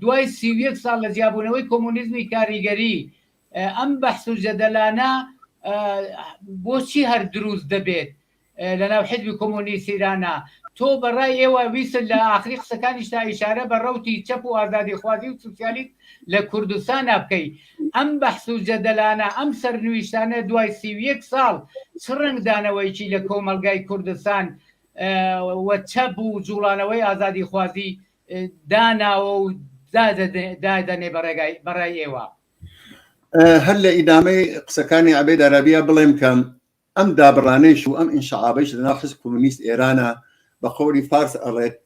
دوای سی و یەک ساڵ لە جیابوونەوەی کۆمۆنیزمی کاریگەری ئەم بەحس و جەدەلانە بۆچی هەر دروست دەبێت لەناو حزبی کۆمۆنیست ایرانا تۆ بەڕای ئێوە ویست لە ئاخری قسەکانیشتا ئیشارە بە ڕەوتی چەپ و ئازادی خوازی و سوسیالیست لە کوردستانا بکەی ئەم بەحس و جەدەلانە ئەم سەرنویشتانە دوای سی و یەک ساڵ چ ڕەنگدانەوەیکی لە کۆمەلگای کوردستان وە چەپ و جوڵانەوەی ئازادی خوازی داناوە و دادەنێ بەڕای ئێوە؟ هەر لە ئیدامەی قسەکانی عەبێد ئەرابیا بڵێم کە ئەم دابڕانەیش و ئەم ئینشعابەیش لەناو حزب کۆمۆنیست ئێرانە بە قەولی فارس ئەڵێت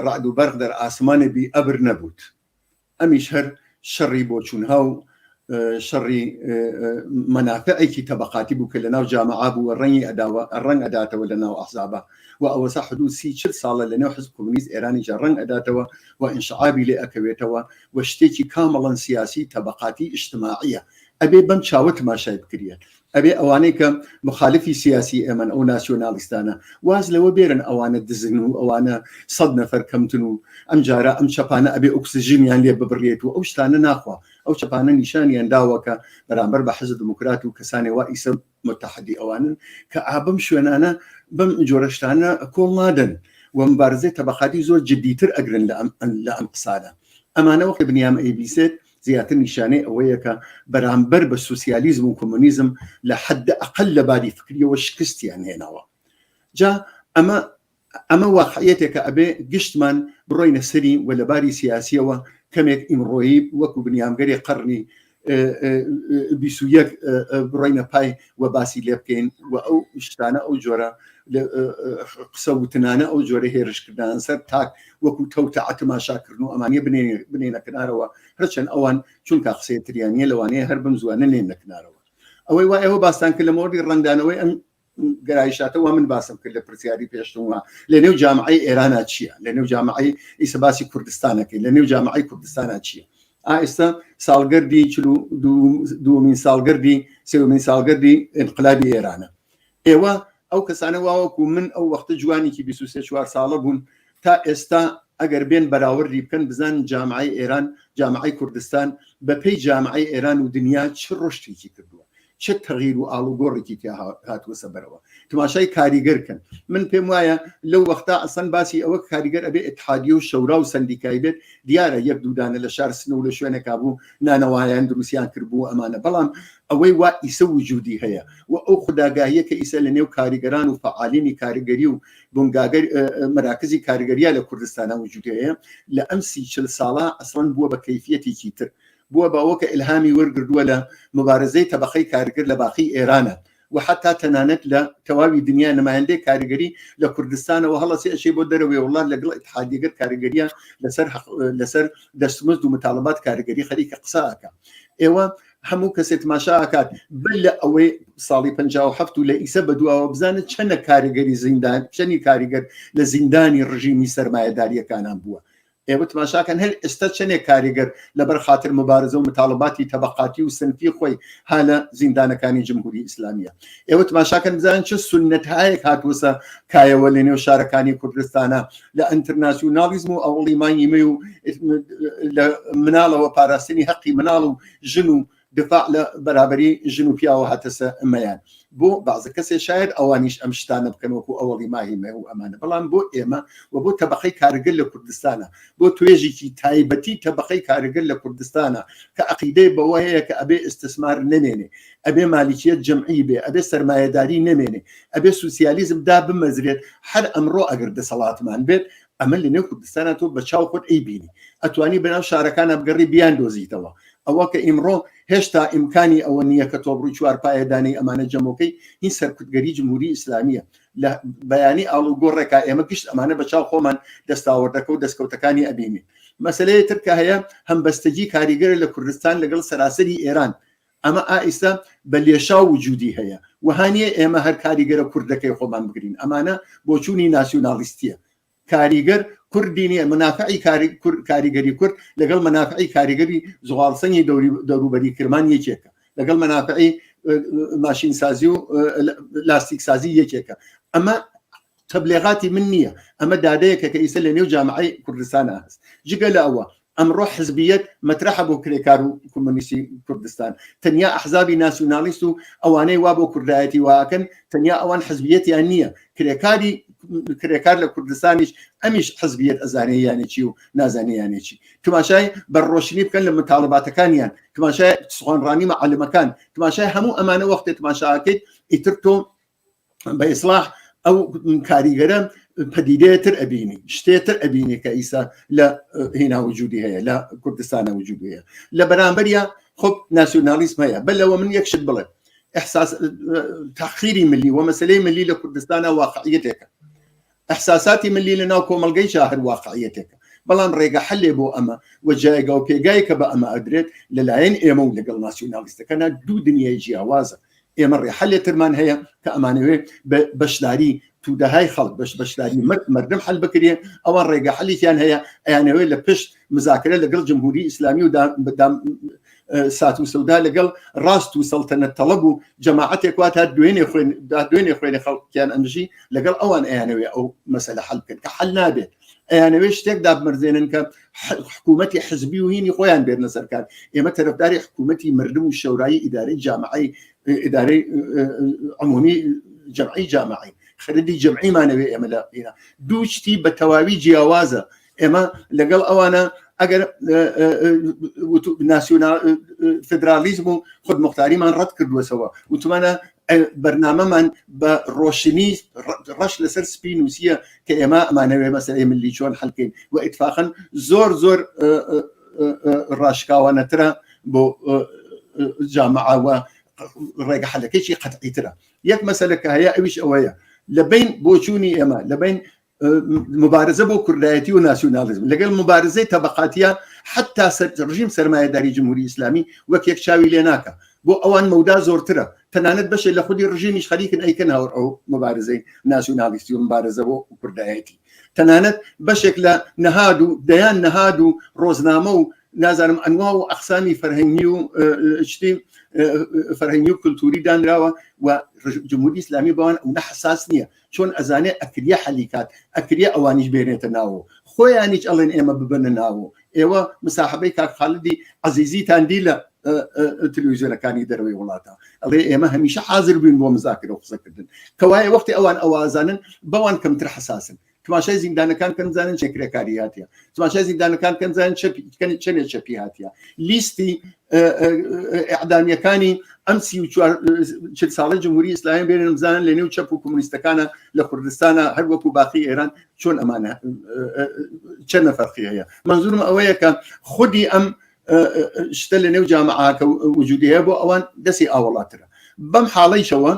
ڕەعد و بەرق دەر ئاسمانی بی ئەبر نەبوود ئەمیش هەر شەڕی بۆچوونها و شەڕی مەنافعێکی تەبقاتی بوو کە لە ناو جامعە بوو و ڕەنگی ئەداوە ڕەنگ ئەداتەوە لە ناو ئەحزابە و ئەوەسا حدوود سی چل ساڵە لە نێو حزب کۆمۆنیست ئێرانیشدا ڕەنگ ئەداتەوە و ئینشعابی لێ ئەکەوێتەوە و شتێکی کامڵەن سیاسی تەبقاتی ئیجتماعییە ئەبێ بەم چاوە تماشای بکریەت ئەبێ ئەوانەی کە مخالفی سیاسی ئێمەن ئەو ناسیۆنالیستانە واز لەوە بێرن ئەوانە دزن و ئەوانە سەد نەفەر کەمتن و ئەم جارە ئەم چەپانە ئەبێ ئۆکسسیژنیان لێ ببڕێت و ئەو شتانە ناخوا ئەو چەپانە نیشانیان داوەکە بەرامبەر بە حەزە دموکرات و کەسانێ وا ئیسە متحدی ئەوانن کە ئابم شوێنانە بەم جۆرەشتانە کۆڵ نادەن و مبارزەی تەبقاتی زۆر جددیتر ئەگرن لە ئەم قسانە ئەمانەوە کە بنیام ئەیبیسێت زیاتر نیشانەی ئەوەیە کە بەرامبەر بە سوسیالیزم و کۆمۆنیزم لە حد ئەقل لە باری فکریەوە شکستیان هێناوە جا ئەمە ئەمە واقعەتێکە ئەبێ گشتمان بڕۆینە سەری و لەباری سیاسیەوە کەمێک ئیمڕۆیی وەکو بنیامگەری قڕنی بڕینە پای و باسی لێ بکەین و ئەو شتانە ئەو جۆرە قسە وتنانە ئەو جۆرە هێرشکردان سەر تاک وەکو تەوتە ئەتماشاکردن و ئەمانە بنێنە کنارەوە هەرچەند ئەوان چونکە قسەتریانە لەوانەیە هەر بم زوانە نێن لە کنارەوە ئەوەی وا ئەوە باستان کرد لە مۆردی ڕەنگدانەوەی ئەم گەرایشاتەوە من باسم کرد لە پرسیاری پێشتموە لە نێو جامعی ئێرانە چییە لە نێو جامعی ئیسە باسی کوردستانەکەی لە نێو جامعی کوردستانە چییە ئائستا ساڵگەردی چل و دووەمین ساڵگەردی سێومین ساڵگەردی ئینقلابی ئێرانە ئێوە ئەو کەسانە واوەکو من ئەو وەختە جوانێکی 23 چوار ساڵە بوون تا ئێستا ئەگەر بێن بەراوردی بکەن بزان جامعی ئێران جامعی کوردستان بەپی جامعی ئێران و دنیا چ ڕشتێکی کردووە چ تەغیر و ئاڵوگۆڕێکی تیا هاتووەسە بەرەوە تماشای کاریگەر کەن من پێم وایە لەو وەختا ئەسەن باسی ئەوە کاریگەر ئەبێ اتحادی و شەورا و سندیکای بێت دیارە یەک دوودانە لە شار سن و لە شوێنەکە بوو نانەوایان دروستیان کردبوو ئەمانە بەڵام ئەوەی وا ئیسە وجودی هەیە و ئەو خوداگاهیە کە ئیسە لە نێو کاریگەران و فعالینی کاریگەری و بنگاگەر مراکزی کاریگەریا لە کوردستانە وجودەیە لە ئەم سی چل ساڵە ئەسڵەن بووە بە کەفیەتێکی تر بووە بەوە کە ئیلهامی وەرگردووە لە موبارزەی تەبەقەی کارگر لە باقی ئێران و حەتا تەنانەت لە تەواوی دنیا نمایندەی کارگری لە کوردستانەوە هەڵەسێ ئەچێ بۆ دەرەوەی وڵات لەگەڵ ئیتحادیەگەر کارگریە لەسەر لەسەر دەستمزد و متالبات کارگری خەریکە قسە ئەکا ئێوە هەموو کەسێ تماشا ئاکات بل لە ئەوەی ساڵی 57 و لە ئیسە بە دواوە بزانن چەنە کاریگەری زیندان چەنی کاریگەر لە زیندانی ڕژیمی سەرمایەداریەکانان بووە ئێوە تماشا کەن هەر ئێستا چەنێک کاریگەر لەبەر خاتر مبارزە و متاڵباتی تەبەقاتی و سنفی خۆی ها لە زیندانەکانی جمهوری ئیسلامیە ئێوە تماشا کەن بزانن چ سنت هایەک هاتووسە کایەوە لە نێو شارەکانی کوردستانە لە ئەترناسیونالیزم و ئەوڵی مانگیمە و لە مناڵەوە پاراستنی هەقی مناڵ و ژن و دفاع لە بەرابەری ژن و پیاوە هاتەسە ئەمەیان بۆ بازە کەسێ شاید ئەوانیش ئەم شتانە بکەن وەکو ئەوەڵی ماهیمە و ئەمانە بەڵام بۆ ئێمە و بۆ تەبقەی کارگر لە کوردستانە بۆ توێژێکی تایبەتی تەبقەی کارگر لە کوردستانە کە عقیدەی بەوە هەیە کە ئەبێ ئستسمار نەمێنێ ئەبێ مالیکیت جمعی بێ ئەبێ سرمایهداری نەمێنێ ئەبێ سوسیالیزم دا بمەزرێت هەر ئەمڕۆ ئەگەر دەسەڵاتمان بێت ئەمە لە نێو کوردستانە تۆ بە چاو خۆت ئەی بینی ئەتوانی بەناو شارەکانە بگەڕی بیان دۆزیتەوە ئەوە کە ئیمڕۆ هێشتا ئیمکانی ئەوە نییە کە تۆ بڕووی چوار پایەدانی ئەمانە جەمۆکەی هین سەرکوتگەری جمهوری ئیسلامیە لە بەیانی ئاڵ و گۆڕێکا ئێمە گشت ئەمانە بە چاو خۆمان دەستاوەردەکە و دەستکەوتەکانی ئەبینین مەسلەیە ترکە هەیە هەمبەستەجی کاریگەر لە کوردستان لەگەڵ سەراسەری ئێران ئەمە ئائیستا بە لێشاو وجودی هەیە وەهانیە ئێمە هەر کاریگەرە کوردەکەی خۆمان بگرین ئەمانە بۆچوونی ناسیونالیستیە کاریگەر کوردی نیە منافعی کاریگەری کورد لەگەڵ منافعی کاریگەری زغالسەنگی دەوروبەری کرمان یەکێکە لەگەڵ منافعی ماشین سازی و لاستیک سازی یەکێکە ئەمە تەبلێغاتی من نییە ئەمە دادەیەکە کە ئیسە لە نێو جامعی کوردستان هەست جگە لە ئەوە ئەمڕۆ حزبیت مەترحە بۆ کرێکار و کۆمۆنیستی کوردستان تەنیا ئەحزابی ناسیونالیست و ئەوانەی وا بۆ کوردایەتی واکەن تەنیا ئەوان حزبیەتیان نییە کرێکاری کرێکار لە کوردستانیش ئەمیش حزبیت ئەزانەیانێکی و نازانیانێکی تماشای بە ڕۆشنی بکەن لە متالباتەکانیان تماشای سوانڕانی مەعلمەکان تماشای هەموو ئەمانە وەختێ تماشاکەیت ئیتر تۆ بە ئیسلاح ئەو کاریگەرە پەدیدەیەتر ئەبینی شتێتر ئەبینی کە ئیسا لە هینا وجودی هەیە لە کوردستانە وجود هەیە لە بەرامبەریا خۆ ناسیۆنالیسم هەیە بە لەوە من یەکشت بڵێ احساس تاخیری ملی وە مەسلەی ملی لە کوردستانە واقعیتێکە ئیحساساتی ملی لە ناو کۆمەڵگەی جا هەر واقعیەتێکە، بەڵام ڕێگە حەلێ بۆ ئەمە و جایگا و پێگای کە بە ئەمە ئەدرێت لە لایەن ئێمە و لەگەڵ ناسیونالیستەکانا دوو دنیای جیاوازە. ئێمە ڕێ حەلێ ترمان هەیە کە ئەمانەوێ بە بەشداری تودەهای خەڵک بەش بەشداری مەرد مەردم حەل بکرێ، ئەوان ڕێگە حەلێکیان هەیە ئەیانەوێ لە پشت مزاکرە لەگەڵ جمهوری ئیسلامی و دا دا سات و سەودا لەگەڵ ڕاست و سەڵتەنە تەڵەب و جەماعەتێک وا تا دوێنێ خوێن دوێنێ خوێنێ خەڵکیان ئەمژی لەگەڵ ئەوان ئەیانەوێ ئەو مەسەلە حل بکەن کە حل نابێت ئەیانەوێ شتێک دابمەرزێنن کە حکوومەتتی حزبی و هینی خۆیان بێت نەسەرکار ئێمە تەرەفداری حکوومەتتی مردم و شەورایی ئیدارەی جامعی ئیدارەی عمومی جمعی جامعی خەردی جمعیمانەوێ ئێمە لە ئێرە دوو شتی بە تەواوی جیاوازە ئێمە لەگەڵ ئەوانە ئەگەر ناسیۆنا فدرالیزم و خود مختاریمان ڕەت کردوەسەوە وتمانە بەرنمەمان بە ڕۆشنی ڕەش لەسەر سپی نووسە کە ئێمە ئەمانەوێ مەسەی ملی چۆن حلکەین و ئیتفاقن زۆر زۆر ڕاشکاوانەترە بۆ جامعاوە ڕێگە حلەکەی قەتعیترە یەک مەسەلەکە هەیە ئەویش ئەوەیە لە بین بۆچوونی ئێمە لە بین مبارزە بۆ کوردایەتی و ناسیونالیزم لەگەڵ مبارزەی تەبقاتیە حتا ڕژیم سەرمایەداری جمهوری ئیسلامی وەک یەک چاوی لێ ناکە بۆ ئەوان مەودا زۆرترە تەنانەت بەشێ لە خودی ڕژیمیش خەریکن ئەیکەن هاوڕ ئەو مبارزەی ناسیونالیستی و مبارزە بۆ کوردایەتی تەنانەت بەشێک لە نەهاد و دەیان نەهاد و ڕۆزنامە و نازانم ئەنوا و ئەخسامی فەرهەنگی و شتی فەرهەنگی و کللتوری دانراوە و جمهوری ئسلامی بەوان ئەو نە حساس نییە چۆن ئەزانێ ئەکریە حەلی کات ئەکریە ئەوانیش بێنێتە ناوە خۆیانیش ئەڵێن ئێمە ببنە ناوە ئێوە مساحبەی کاک خالدی عزیزیتان دی لە تلویزیۆنەکانی دەروی وڵاتە ئەڵێ ئێمە هەمیشە حاضر بووین بۆ مزاکرە و قسەکردن کەوایە وەختی ئەوان ئەوازانن بەوان کەمتر حساسن تماشای زیندانەکان کەم زانن چەکرەکاری هاتیە تماشای زیندانەکان کەم زانن چەنێ چەپی هاتیە لیستی ئەعدامیەکانی ئەم چل ساڵی جمهوری ئسلایم بێنم زان لە نێو چەپ و کمونیستەکانە لە کوردستانە هەر وەکو باقی ئێران چۆن ئەمانە چەند نەفەرقی هەیە منزورم ئەوەیە کە خودی ئەم شتە لە نێو جامعاکە وجودەیە بۆ ئەوان دەسی ئاوەڵاترە بەم حاڵیشەوە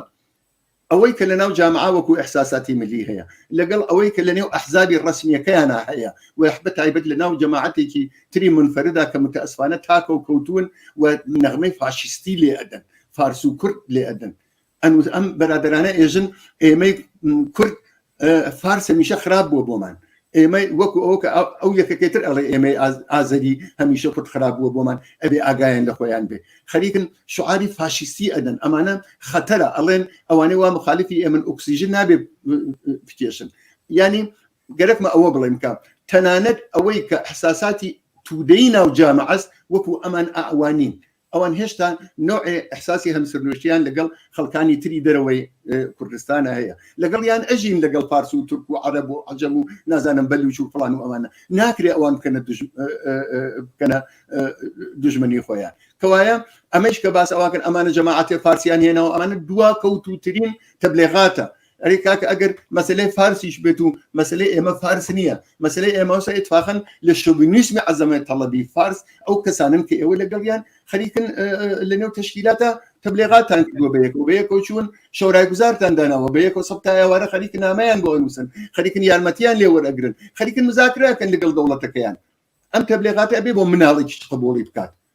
ئەوەی کە لەناو جامعە وەکو ئیحساساتی ملی هەیە لەگەڵ ئەوەی کە لەنێو ئەحزابی ڕەسمیەکەیانا هەیە و بە تایبەت لەناو جەماعەتێکی تری مونفەردا کە متەئسفانە تاکە و کەوتوون و نەغمەی فاشیستی لێ ئەدەن فارس و کورد لێ ئەدەن ئەم بەرادەرانە ئێژن ئێمەی کورد فارس هەمیشە خراپ بووە بۆمان ئێمە وەکو ئەو کە ئەو یەکەکەتر ئەڵێ ئێمەی ئازەری هەمیشە کورد خراپ بووە بۆمان ئەبێ ئاگایان لە خۆیان بێ خەریکن شعاری فاشیستی ئەدەن ئەمانە خەتەرە ئەڵێن ئەوانەی وا مخالفی ئێمن ئۆکسسیژن نابێ بکێشن ینی گەرەکمە ئەوە بڵێم کە تەنانەت ئەوەی کە حساساتی تودەی ناو جامعەست وەکو ئەمان ئاوانین ئەوان هێشتا نەوعێ ئیحساسی هەمسەرنوشتیان لەگەڵ خەڵکانی تری دەرەوەی کوردستانە هەیە لەگەڵیان ئەژین لەگەڵ پارس و تورک و عەرەب و عەجەم و نازانم بەلوچ و فڵان و ئەوانە ناکرێ ئەوان بکەنە بکەنە دژمنی خۆیان کەوایە ئەمەش کە باس ئەوە کرد ئەمانە جەماعەتێ فارسیان هێنەوە ئەمانە دوا کەوتوترین تەبلێغاتە ئەری کاکە ئەگەر مەسلەی فارسیش بێت و مەسلەی ئێمە فارس نییە مەسلەی ئێمەسە اتفاقن لە شوبنیسمی عزمەت تەڵەبی فارس ئەو کەسانن کە ئێوە لەگەڵیان خەریکن لە نێو تشکیلاتە تەبلێغاتان کردوە بە یەکەوە بە یەکەوە چوون شەورای گوزارتان داناوە بە یەکەوە سەب تایوارە خەریک نامەیان بۆ نووسن خەریکن یارمەتیان لێ وەرەگرن خەریکن مزاکراکەن لەگەڵ دەوڵەتەکەیان ئەم تەبلێغاتە بێ بۆ مناڵێکیش قبولی بکات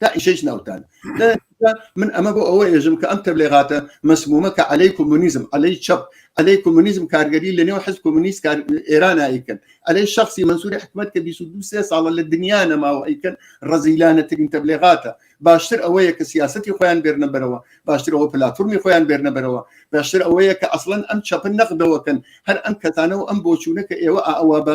تا ئیشەیش ناوتان من ئەمە بۆ ئەوە ێژم کە ئەم تەبلێغاتە مەسمومە کە عەلەی کۆمونیزم ئەلەی چەپ ئەلەی کۆمونیزم کارگەری لە نێو حز کۆمونیست کار ئێران ئایکن ئەلەی شخصی منسووری حکومت کە 22 ساڵە لە دنیا نەماوە ئەیکن ڕزیلانەترین تەبلێغاتە باشتر ئەوەیە کە سیاستی خۆیان بێرنە بەرەوە باشتر ئەوە پلاتفورمی خۆیان بێرنە بەرەوە باشتر ئەوەیە کە ئەسڵەن ئەم چەپن نەقدەوەکەن هەر ئەم کەتانە و ئەم بۆچوونە کە ئێوە ئاوا بە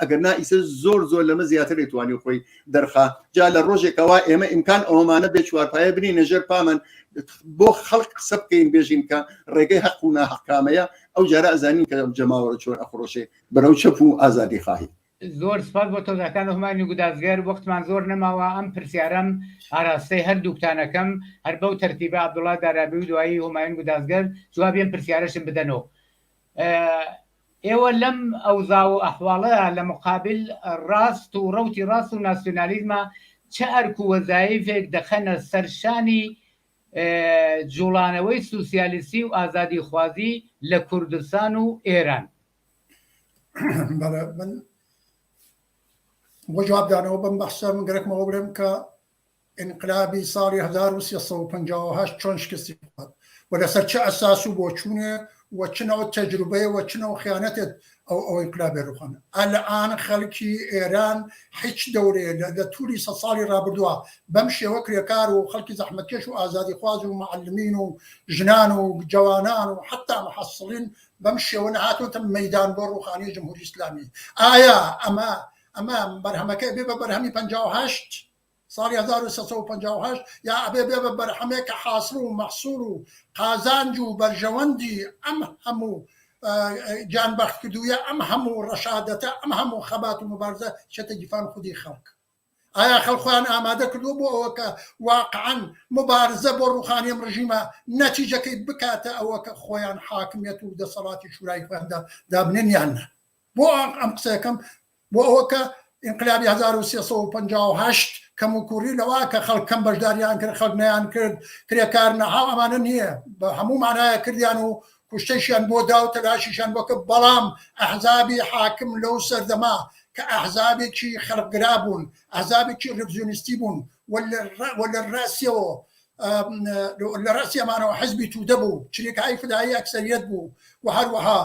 ئەگەر نا ئیسە زۆر زۆر لەمە زیاتر توانی خۆی دەرخا جا لە ڕۆژێکەوە ئێمە ئیمکان ئەومانە بێ چوارپایە بنی نەژێر پامن بۆ خەڵک قسە بکەین بێژین کە ڕێگەی حەق و ناحقامەیە ئەو جارە ئەزانین کە جەماوەرە چۆر ئەخڕۆشێ بەرەو چەپ و ئازادی خواهی زۆر سپاس بۆ تۆزەکان هەمانی گودازگەر وەختمان زۆر نەماوە ئەم پرسیارم ئاراستەی هەردووکتانەکەم هەر بەو تەرتیبە عبدوڵا دارابی و دوایی هەماین گودازگەر جوابیان پرسیارشم بدەنەوە ئێوە لەم ئەوزا و ئەحواڵەدا لە مقابل ڕاست و ڕەوتی ڕاست و ناسیۆنالیزما چ ئەرک و وەزایفێک دەخەنە سەر شانی جووڵانەوەی سوسیالیستی و ئازادیخوازی لە کوردستان و ئێران؟ بەڵێ من بۆ جوابدانەوە بەم بەحسە من گەرەکمەوە بڵێم کە ئینقلابی ساڵی هەزار و سێ سەد و پەنجا و هەشت چۆن شکستی خوارد و لەسەر چ ئەساس و بۆچوونێ و چ نەوع تەجروبەیە و چ نەوع خیانەتێت ئەو ئەو ئینقلابێ رووخان؟ ئەلئان خەلکی ئێران حیچ دەورێ لە لە تووری سەد ساڵی رابردووە بەم شێوە کرێکار و خەلکی زەحمەتکێش و ئازادیخواز و موعەلمین و ژنان و جەوانان و حەتتا موحەسڵین بەم شێوە نەهاتۆتە مەیدان بۆ رووخانی جمهوری ئیسلامی؟ ئایا ئەمە ئەمە بەرهەمەکەی بێ بە بەرهەمی پەنجا و هەشت؟ ساڵی هەزار و سێ سەد و پەنجا و هەشت یا ئەبێ بێ بە بەرهەمێ کە حاسڵ و مەحسوڵ و قازانج و بەرژەوەندی ئەم هەموو گیانبەخت کردوویە، ئەم هەموو ڕەشادەتە، ئەم هەموو خەبات و موبارزە چێتە گیفان خودی خەڵک. ئایا خەڵک خۆیان ئامادە کردووە بۆ ئەوە کە واقعەن موبارزە بۆ ڕووخانی ئەم ڕژیمە نەتیجەکەی بکاتە ئەوە کە خۆیان حاکمیەت و دەسەڵاتی شورای خۆیان دابنێن یان نا؟ بۆ ئەم قسەکەم بۆ ئەوە کە ئینقلابی هەزار و سێ سەد و پەنجا و هەشت کەم و کوڕی لەوە کە خەڵک کەم بەشداریان کرد خەڵک نیان کرد کرێکار نەها ئەمانە نییە بە هەموو مانایە کردیان و کوشتەشیان بۆ دا و تەلاشیشان بۆ کرد بەڵام ئەحزابی حاکم لەو سەردەما کە ئەحزابێکی خەڵکگرا بوون ئەحزابێکی ڕڤزیۆنیستی بوون و لە ڕ- و لە ڕاستیەوە ئەم، لە ڕاستیەمانەوە حزبی توودە بوو چریکایی فدایی ئەکسەریەت بوو و هەروەها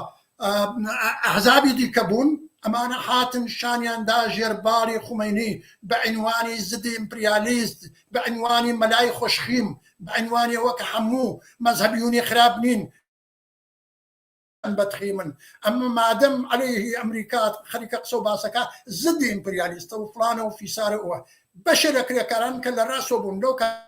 ئەحزابی دیکە بوون، ئەمانە هاتن شانیان دا ژێر باڵی خومەینی بە عینوانی زدی ئیمپریالیست، بە عینوانی مەلای خوشخیم، بە عینوانی ئەوە کە هەموو مەزهەبیونی خراپ نین، ئەم بەدخیمن، ئەمە مادەم عەلەیهی ئەمریکا خەریکە قسە و باسەکا زدی ئیمپریالیستە و فڵانە و فیسارە و ئەوە، بەشێ لە کرێکاران کە لە راسۆ بوون لەو کاتە،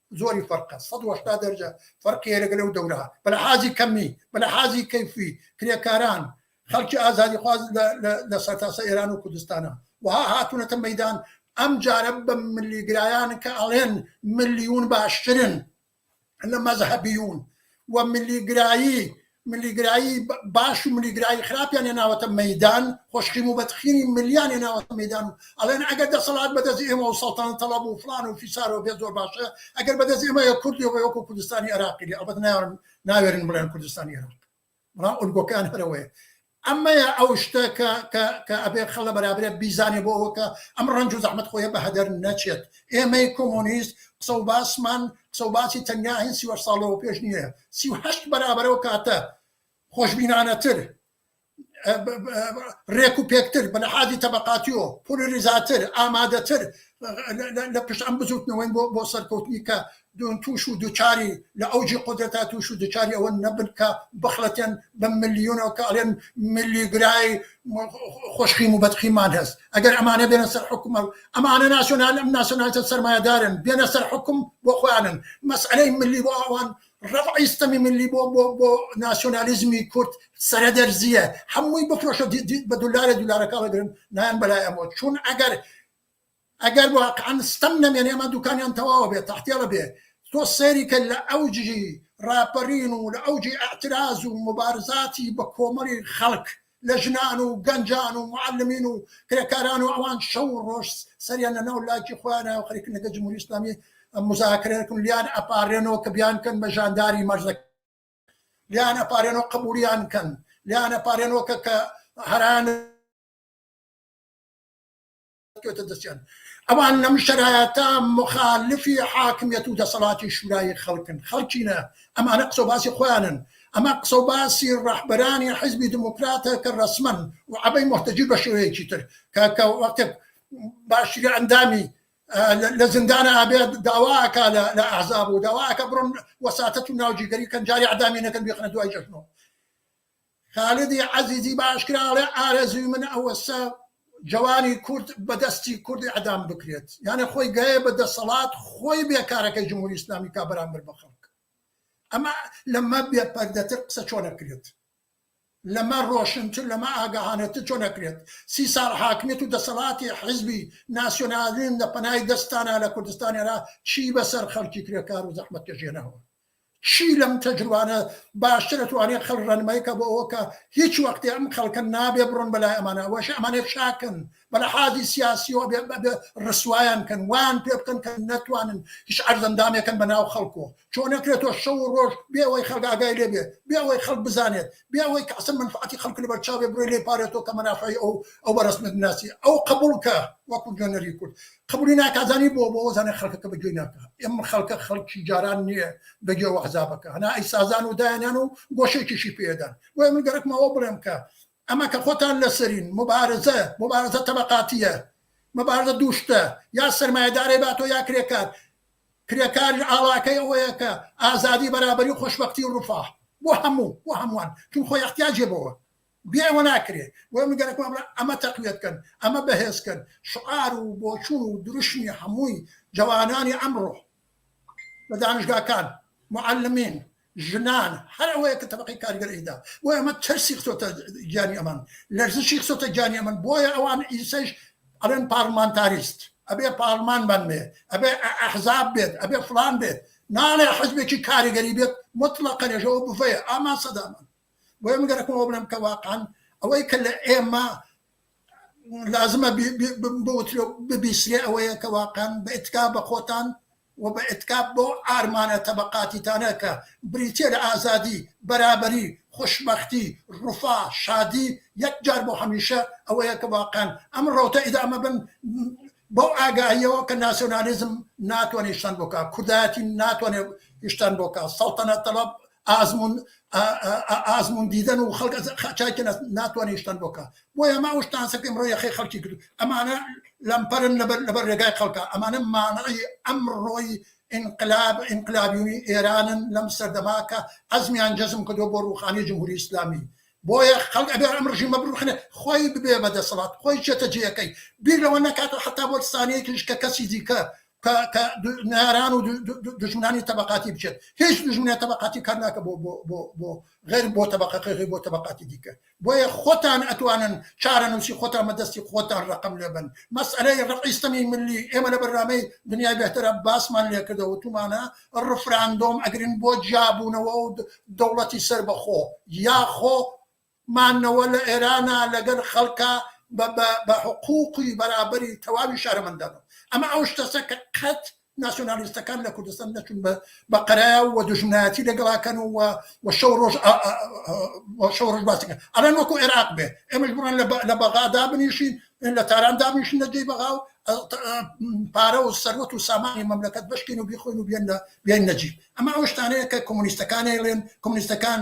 زۆری فەرقە سەد و هەشتا دەرجە فەرقی هەیە لەگەل ئەو دەورە بە لەحازی کەمی بە لەحازی کەیفی کرێکاران خەلکی ئازادیخواز لە سەرتاسە ئێران و کوردستانە وها هاتونەتە مەدان ئەم جارە بە ملیگرایان کە ئەڵێن ملیون باشترن لە مەزهبیون و ملیگرایی ملیگرایی باش و ملیگرایی خراپیان هێناوەتە مەیدان خۆشخیم و بەدخینی ملیان هێناوەتە مەدان و ئەڵێن ئەگەر دەسەڵات بەدەست ئێمە و سەڵتان تەڵەب و فلان و فیسارەوە بێ زۆر باشە ئەگەر بەدەست ئێمە یە کوردی بە وەکو کوردستانی عراقی ئەڵبەت ناوێرن ناوێرن بڵێن کوردستانی عراق بەڵام ئۆلگۆکان هەرەوەیە ئەمەیە ئەو شتە کە کە کە ئەبێ خە ڵە بەرابرێ بیزانێ بۆ ئەوە کە ئەم ڕەنج و زەحمەت خۆیە بە هەدەر نەچێت. ئێمەی کۆمۆنیست قسە و باسمان قسە و باسی تەنیا هەین سی و هەشت ساڵ لەوە پێش نییە، سی و هەشت بەرابەر ئەو کاتە خۆشبینانەتر، رێک و پێکتر، بە لەحازی تەبەقاتی و پۆلۆریزاتر، ئامادەتر لە پشت ئەم بزووتنەوەین بۆ بۆ سەرکەوتنی کە دون توش و دوچاری لە ئەوجی قودرەتا توش و دوچاری ئەوە نەبن کە بخڵەتێن بە ملیونەوە کە ئەڵێن ملی گرای خوشخیم و بەدخیمان هەس ئەگەر ئەمانە بێنە سەر حکومە ئەمانە ناسیۆنال ئەم ناسیۆنالتە سەرمایەدارن بێنە سەر حکوم بۆ خۆیانن مەسئەلەی ملی بۆ ئەوان ڕەفعی ستەمی ملی بۆ بۆ بۆ ناسیۆنالیزمی کورد سەرە دەرزیە هەمووی بفرۆشە بە دولارە دولارەکە بگرن نایەن بەلای ئەمەوە چون ئەگەر ئەگەر واقعەن ستەم نەمێنێ ئەمە دوکانیان تەواوە بێ تەحتێڵە بێ تۆ سەیری کە لە ئەوجی ڕاپەرین و لە ئەوجی ئەعتراز و موبارزاتی بە کۆمەڵی خەڵک لە ژنان و گەنجان و معەلمین و کرێکاران و ئەوان شەو و ڕۆژ سەریان لە ناو لاکی خۆیانایەوە خەریکن لەگەڵ جمهوری ئیسلامی مزاکرە کن لیان ئەپارێنەوە کە بیان کەن بە ژانداری مەرزەک لیان ئەپارێنەوە قبولیان کەن لیان ئەپارێنەوە کە کە هەران کەوتە دەستیان. ئەوان لەم شەرایەتە موخالفی حاکمیەت و دەسەڵاتی شورای خەڵکن، خەڵکی نا، ئەمانە قسە و باسی خۆیانن، ئەمە قسە و باسی ڕەهبەرانی حیزبی دیموکراتە کە ڕەسمەن و عەبەی موهتەجی بە شێوەیەکی تر کە کە وەختێک باشترین ئەندامی لە زندان ئابێت داواکە لە ئەحزاب و داواکە بڕۆن وەساتەت و ناوجیگەری کەنجاری عدامی نەکەن بێخنە دوای جەژنەوە خالیدی عەزیزی بە ئاشکرا ئەڵێ ئارەزووی من ئەوەسە جەوانی کورد بە دەستی کورد ئیعدام بکرێت، یانێ خۆی گەیە بە دەسەڵات خۆی بێ کارەکەی جمهوری ئیسلامی کا بەرامبەر بە خەڵک. ئەمە لەمە بێ پەردەتر قسە چۆن ئەکرێت؟ لەمە ڕۆشنتر لەمە ئاگاهانەتر چۆن ئەکرێت؟ سی ساڵ حاکمیەت و دەسەڵاتی حیزبی ناسیۆنالیزم لە پەنای دەستانا لە کوردستان ئێرا چی بە سەر خەڵکی کرێکار و زەحمەتکێش هێناوە؟ چی لەم تەجروانە باشترە توانێ خەلک رەنمای کە بۆ ئەوە کە هیچ وەختێ ئەم خەلکە نابێ برۆن بە لای ئەمانە ئەوەش ئەمانێ چاکن بە لەحازی سیاسیەوە ئەبێ ئەبێ رسوایان کەن وایان پێ بکەن کە نەتوانن هیچ عەرزەندامێکەن بە ناو خەلکۆ چۆنەکرێ تۆ شەو و رۆژ بێ ئەوەی خەلک ئاگای لێ بێ بێ ئەوەی خەلک بزانێت بێ ئەوەی کە عەسل مەنفەعەتی خەڵک لە بەر چاو بێ بڕۆی لێ پارێزتەوە کە مەنافەعی ئەو ئەو بە ڕەسمیەت بناسی ئەو قەبووڵ کە وەکوو نوێنەری کورد قەبووڵی ناکا زانی بۆ بۆ زانێ خەڵکەکە بە گوێی ناکا ئێمە خەڵکە خەڵکی جاران نییە بە گوێ وەحزابەکە هەنا ئەی سازان و دایانیان و گۆشێکیشی پێدان بۆیە من گەرەکمەوە بڵێم کە ئەمە کە خۆتان لەسەرین مبارزە مبارزە تەبقاتیە مبارزە دووشتە یا سەرمایەدارێ باتۆ یا کرێکار کرێکاریش ئاڵاکەی ئەوەیە کە ئازادی بەرابەری خۆشبەختی ڕفاه بۆ هەموو بۆ هەمووان چون خۆی احتیاجێ بەوە بێ ئەوە ناکرێ بۆیە من گەرەکم ئەمە ئەمە تەقویەت کەن ئەمە بەهێز کەن شعار و بۆچوون و دروشمی هەمووی جەوانانی ئەمڕۆ لە دانشگاکان معلمین ژنان هەر ئەوەیە کە تەبەقەی کارگەر ئەیدا بۆ ئەمە ترسی خستۆتە گیانی ئەمان لەرزشی خستۆتە گیانی ئەمن بۆیە ئەوان ئیسەیش ئەلێن پارلمانتاریست ئەبێ پارلمان بەنێ ئەبێ ئەحزاب بێت ئەبێ فلان بێت ناڵێ حزبێکی کاریگەری بێت مطلقە لێژەوە بڤەیە ئامان سەدامان بۆیە من گەرەکم ئەوە بڵێم کە واقعەن ئەوەی کە لە ئێمە لازمە بۆترێ ببیسرێ ئەوەیە کە واقعەن بە ئتکا بە خۆتان و بە ئتکا بۆ ئارمانە تەبقاتیتانە کە بریتە لە ئازادی بەرابەری خوشببختی ڕوفا شادی یەک جار بۆ هەمیشە ئەوەیە کە واقعەن ئەم ڕوتە ئیدامە بن بەو ئاگاییەوە کە ناسیۆنالیزم ناتوانێت شتان بۆکە کوردایەتی ناتوانێت هشتان بۆکە سەڵتەنە تەڵب ئازمون ئازمون دیدەن و خەڵک چای کە ناتوانێت شتان بۆ کە بۆیە ماوە شتان سەکەی ئەمڕۆ یەخەی خەڵکی کرد ئەمانە لەمپەرن لەبەر لەبەر ڕێگای خەڵکە ئەمانە مانعی ئەمڕۆی انقلاب انقلابیونی ئێرانن لەم سەردەماکە ئەزمیان جەزم کردو بۆ ڕوخانی جمهوری ئیسلامی بۆیە خەڵک ئەبێ ئەم ڕژیمە بڕوخنێ خۆی ببێ بە دەسەڵات خۆی چێتە جێەکەی بیر لەوە نەکاتەوە حتا بۆ سانەیەکیش کە کەسی دیکە کە کە ناران و دژمنانی تەبقاتی بچێت هیچ دژمنە تەبقاتی کار ناکە بۆ بۆ بۆ بۆ غێر بۆ تەبقەکە غێر بۆ تەبقاتی دیکە بۆیە خۆتان ئەتوانن چارەنووسی خۆتان بەدەستی خۆتان ڕقم لێبن مەسئلەی ڕقیستەمی ملی ئێمە لە بەرنامەی دنیای بهترە باسمان لێکردەوە تومانە ڕفراندۆم ئەگرن بۆ جیابوونەوە و دەوڵەتی سەر بەخۆ یاخۆ مانەوە لە ئێرانا لەگەل خەلکا بە بە بە حقوقی بەرابەری تەواوی شارەمەندانەوە ئەمە ئەو شتەسە کە قەت ناسیۆنالیستەکان لە کوردستان نەچون بە بە قەرا و دوژمنایەتی لەگەڵا کەن و و شەو رۆژ ئا ئا ئا شەو رۆژ باسی کەن ئەلان وەکو ئێراق بێ ئێمەش بڕۆن لە بە لە بەغا دابنیشین لە تاران دابنیشین لە جێی بەغا و پارە و سەروەت و سامانی مەملەکەت بشکین و بیخۆین و بێن لە بێن نەجیب ئەمە ئەو شتانەیە کە کۆمۆنیستەکان ئەیڵێن کۆمۆنیستەکان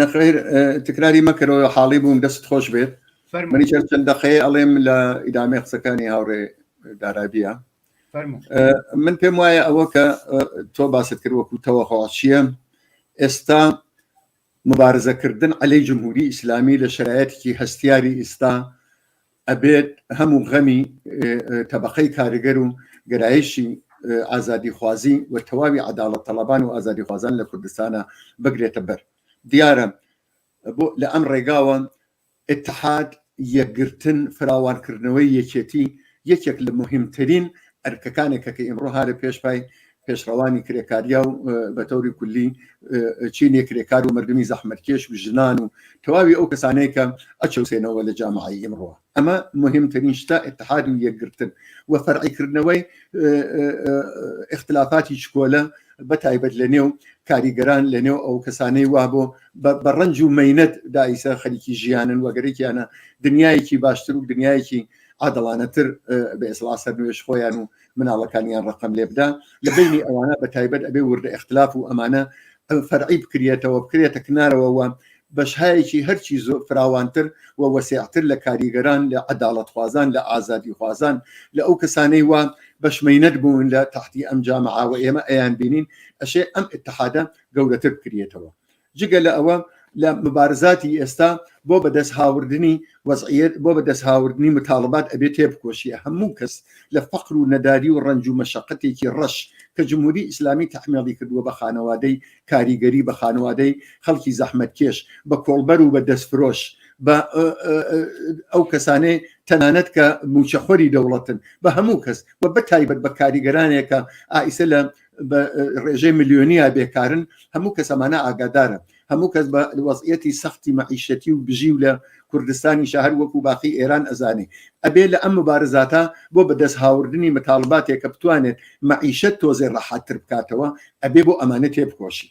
نەخیر تکراری مەکەرەوە حاڵی بووم دەست خۆش بێت منی چەند چەند دەقەیە ئەڵێم لە ئیدامەی قسەکانی هاوڕێ دارابیە من پێم وایە ئەوە کە تۆ باست کرد وەکو تەوەخواچیە ئێستا مبارزەکردن عەلەی جمهوری ئیسلامی لە شرایەتێکی هەستیاری ئیستا ئەبێت هەموو غەمی تەبەقەی کارگەر و گەرایشی ئازادیخوازی و تەواوی عەداڵەت تەڵەبان و ئازادیخوازان لە کوردستانە بگرێتە بەر دیارە بۆ لە ئەم ڕێگاوە اتحاد یەکگرتن فراوانکردنەوەی یەکێتی یەکێک لە مهمترین ئەرکەکانێکە کە ئیمڕۆ هارە پێشپای پێشڕەوانی کرێکاریا و بە تەوری کولی چینێ کرێکار و مردمی زەحمەتکێش و ژنان و تەواوی ئەو کەسانەیە کە ئەچەوسێنەوە لە جامعی ئیمڕۆ ئەمە مهمترین شتە اتحاد و یەکگرتن و فەرعیکردنەوەی اختلافاتی چکۆلە بە تایبەت لە نێو کاریگەران لە نێو ئەو کەسانەی وا بۆ بە ڕنج و مینەت دایسە خەریکی ژیانن وەگەرێکیانە دنیایەکی باشتر و دنیایەکی عادڵانەتر بە ئێسڵا سەر نوێش خۆیان و مناڵەکانیان ڕقم لێ بدا لە بینی ئەوانە بە تایبەت ئەبێ وردە اختلاف و ئەمانە فەرعی بکرێتەوە بکرێتە کنارەوەوە بەشهایەکی هەرچی زۆر فراوانتر و وەسیعتر لە کاریگەران لە عداڵەتخوازان لە ئازادی خوازان لە ئەو کەسانەی وە بەشمەینەت بوون لە تحتی ئەم جامعاوە ئێمە ئەیان بینین ئەشێ ئەم اتحادە گەورەتر بکرێتەوە جگە لە ئەوە لە مبارزاتی ئێستا بۆ بەدەست هاوردنی وەزعیت بۆ بەدەست هاوردنی متالبات ئەبێ تێبکۆشیە هەموو کەس لە فەقر و نەداری و ڕنج و مەشقەتێکی ڕەش کە جمهوری ئیسلامی تحمیڵی کردووە بە خانەوادەی کاریگەری بە خانەوادەی خەڵکی زەحمەت کێش بە کۆڵبەر و بە دەستفرۆش بە ئەو کەسانەی تەنانەت کە موچەخۆری دەوڵەتن بە هەموو کەس و بە تایبەت بە کاریگەرانێکە ئایسە لە بە ڕێژەی ملیۆنیا بێکارن هەموو کەس ئەمانە ئاگادارە هەموو کەس بە وەزعەتی سەختی مەعیشەتی و بژی و لە کوردستانی شەهر وەکو باقی ئێران ئەزانێ ئەبێ لە ئەم مبارزاتە بۆ بەدەست هاوردنی متالباتێکە بتوانێت مەعیشەت تۆزێ ڕەحاتتر بکاتەوە ئەبێ بۆ ئەمانە تێبکۆشین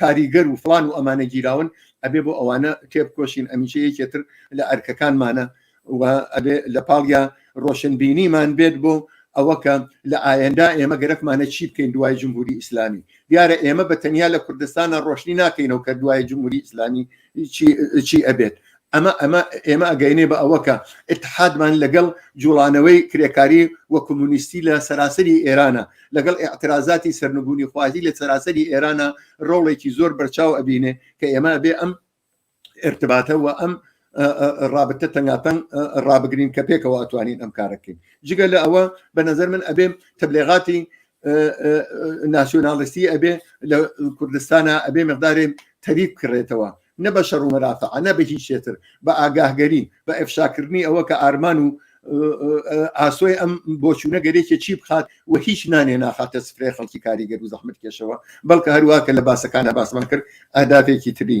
کاریگەر و فلان و ئەمانە گیراون ئەبێ بۆ ئەوانە تێبکۆشین ئەمیشە یەکێتر لە ئەرکەکانمانە و ئەبێ لە پاڵیا ڕۆشنبینیمان بێت بۆ ئەوەکە لە ئاەندا ئێمە گەرەکمانە چی بکەین دوای جمهوری ئیسلامی دیارە ئێمە بە تەنیا لە کوردستانە ڕۆشنی ناکەینەوە کە دوای جمهوری ئیسلامی چی ئەبێت ئەمە ئەمە ئێمە ئەگەینێ بە ئەوە کە اتحادمان لەگەڵ جوڵانەوەی کرێکاری و کۆمونیستی لە سەراسەری ئێرانە لەگەڵ اعترازاتی سەرنگونی خوازی لە سەراسەری ئێرانە ڕۆڵێکی زۆر بەرچاو ئەبینێ کە ئێمە بێ ئەم ارتباتە و ئەم ڕابتە تەنگاتەنگ ڕابگرین کە پێکەوە ئەتوانین ئەم کارەکەین جگە لە ئەوە بە نظر من ئەبێ تبلێغاتی ناسیۆناڵستی ئەبێ لە کوردستانە ئەبێ مقدارێ تەریب کڕێتەوە نە بە شەڕ و مەرافعانە بە هیچ شێتر بە ئاگاهگەری بە ئەفشاکردنی ئەوە کە ئارمان و ئاسۆی ئەم بۆچوونە گەرێکی چی بخات و هیچ نانێ ناخاتە سفرێ خەڵکی کاریگەر و زەحمت کێشەوە بەڵکە هەروواکە لە باسەکانە باسمان کرد ئەداتێکی تری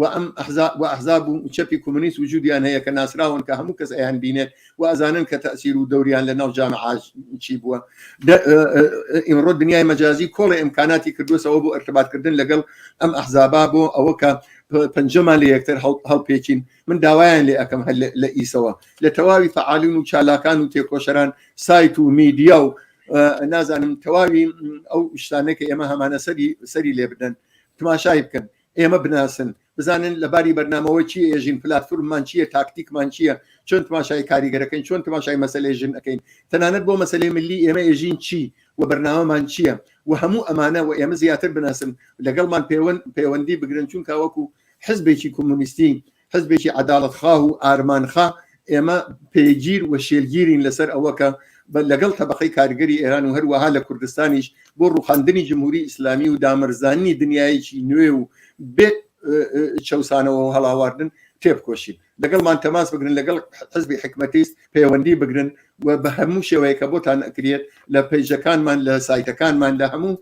وە ئەم ئەحزاب وە ئەحزاب و چەپی کۆمۆنیست وجودیان هەیە کە ناسراون کە هەموو کەس ئەیان بینێت و ئەزانن کە تەئسیر و دەوریان لە ناو جامعاج چی بووە ئیمڕۆ دنیای مەجازی کۆڵی ئیمکاناتی کردوسەوە بۆ ئەرتباطکردن لەگەڵ ئەم ئەحزابا بۆ ئەوە کە پەنجەمان لە یەکتر هەڵپێکین من داوایان لێ ئەەکەم هەر لە ئیسەوە لە تەواوی فعالین و چالاکان و تێکۆشەران سایت و میدیا و نازانم تەواوی ئەو شتانێکە ئێمە هەمانە سەری سەری لێ بدەن تماشای بکەن ئێمە بناسن بزانن لە باری بەرنامەوە چی ئێژین پلاتفورممان چییە تاکتیکمان چییە چۆن تماشای کاریگەرەکەین چۆن تماشای مەسلەی ژن ئەەکەین تەنانەت بۆ مەسلەی ملی ئێمە ئێژین چی و بەرنامەمان چییە و هەموو ئەمانە و ئێمە زیاتر بناسن لەگەڵمان پەیوەند پەیوەندی بگرن چونکە وەکو حزبێکی کۆمۆنیستی حزبێکی عەداڵەتخاه و ئارمانخا، ئێمە پێگیر و شێلگیرین لەسەر ئەوە کە لەگەڵ تەبەقەی کارگەری ئێران و هەروەها لە کوردستانیش بۆ ڕووخاندنی جمهوری ئیسلامی و دامەرزاندنی دنیایەکی نوێ و بێ چەوسانەوە و هەڵاواردن تێبکۆشین لەگەڵمان تەماس بگرن لەگەڵ حزبی حکمەتیست پەیوەندی بگرن و بە هەموو شێوەیە کە بۆتان ئەکرێت لە پەیژەکانمان لە سایتەکانمان لە هەموو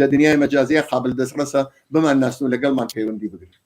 لە دنیای مەجازیە قابل دەستڕەسە بمان ناسن و لەگەڵمان پەیوەندی بگرن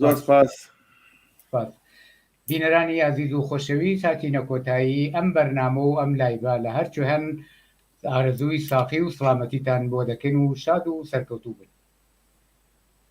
زۆر سپاس سپاس بینەرانی ئازیز و خۆشەویست هاتینە کۆتایی ئەم بەرنامە و ئەم لایڤە لە هەرچی هەن ئارەزووی ساقی و سڵامەتیتان بۆ دەکەین و شاد و سەرکەوتوو بن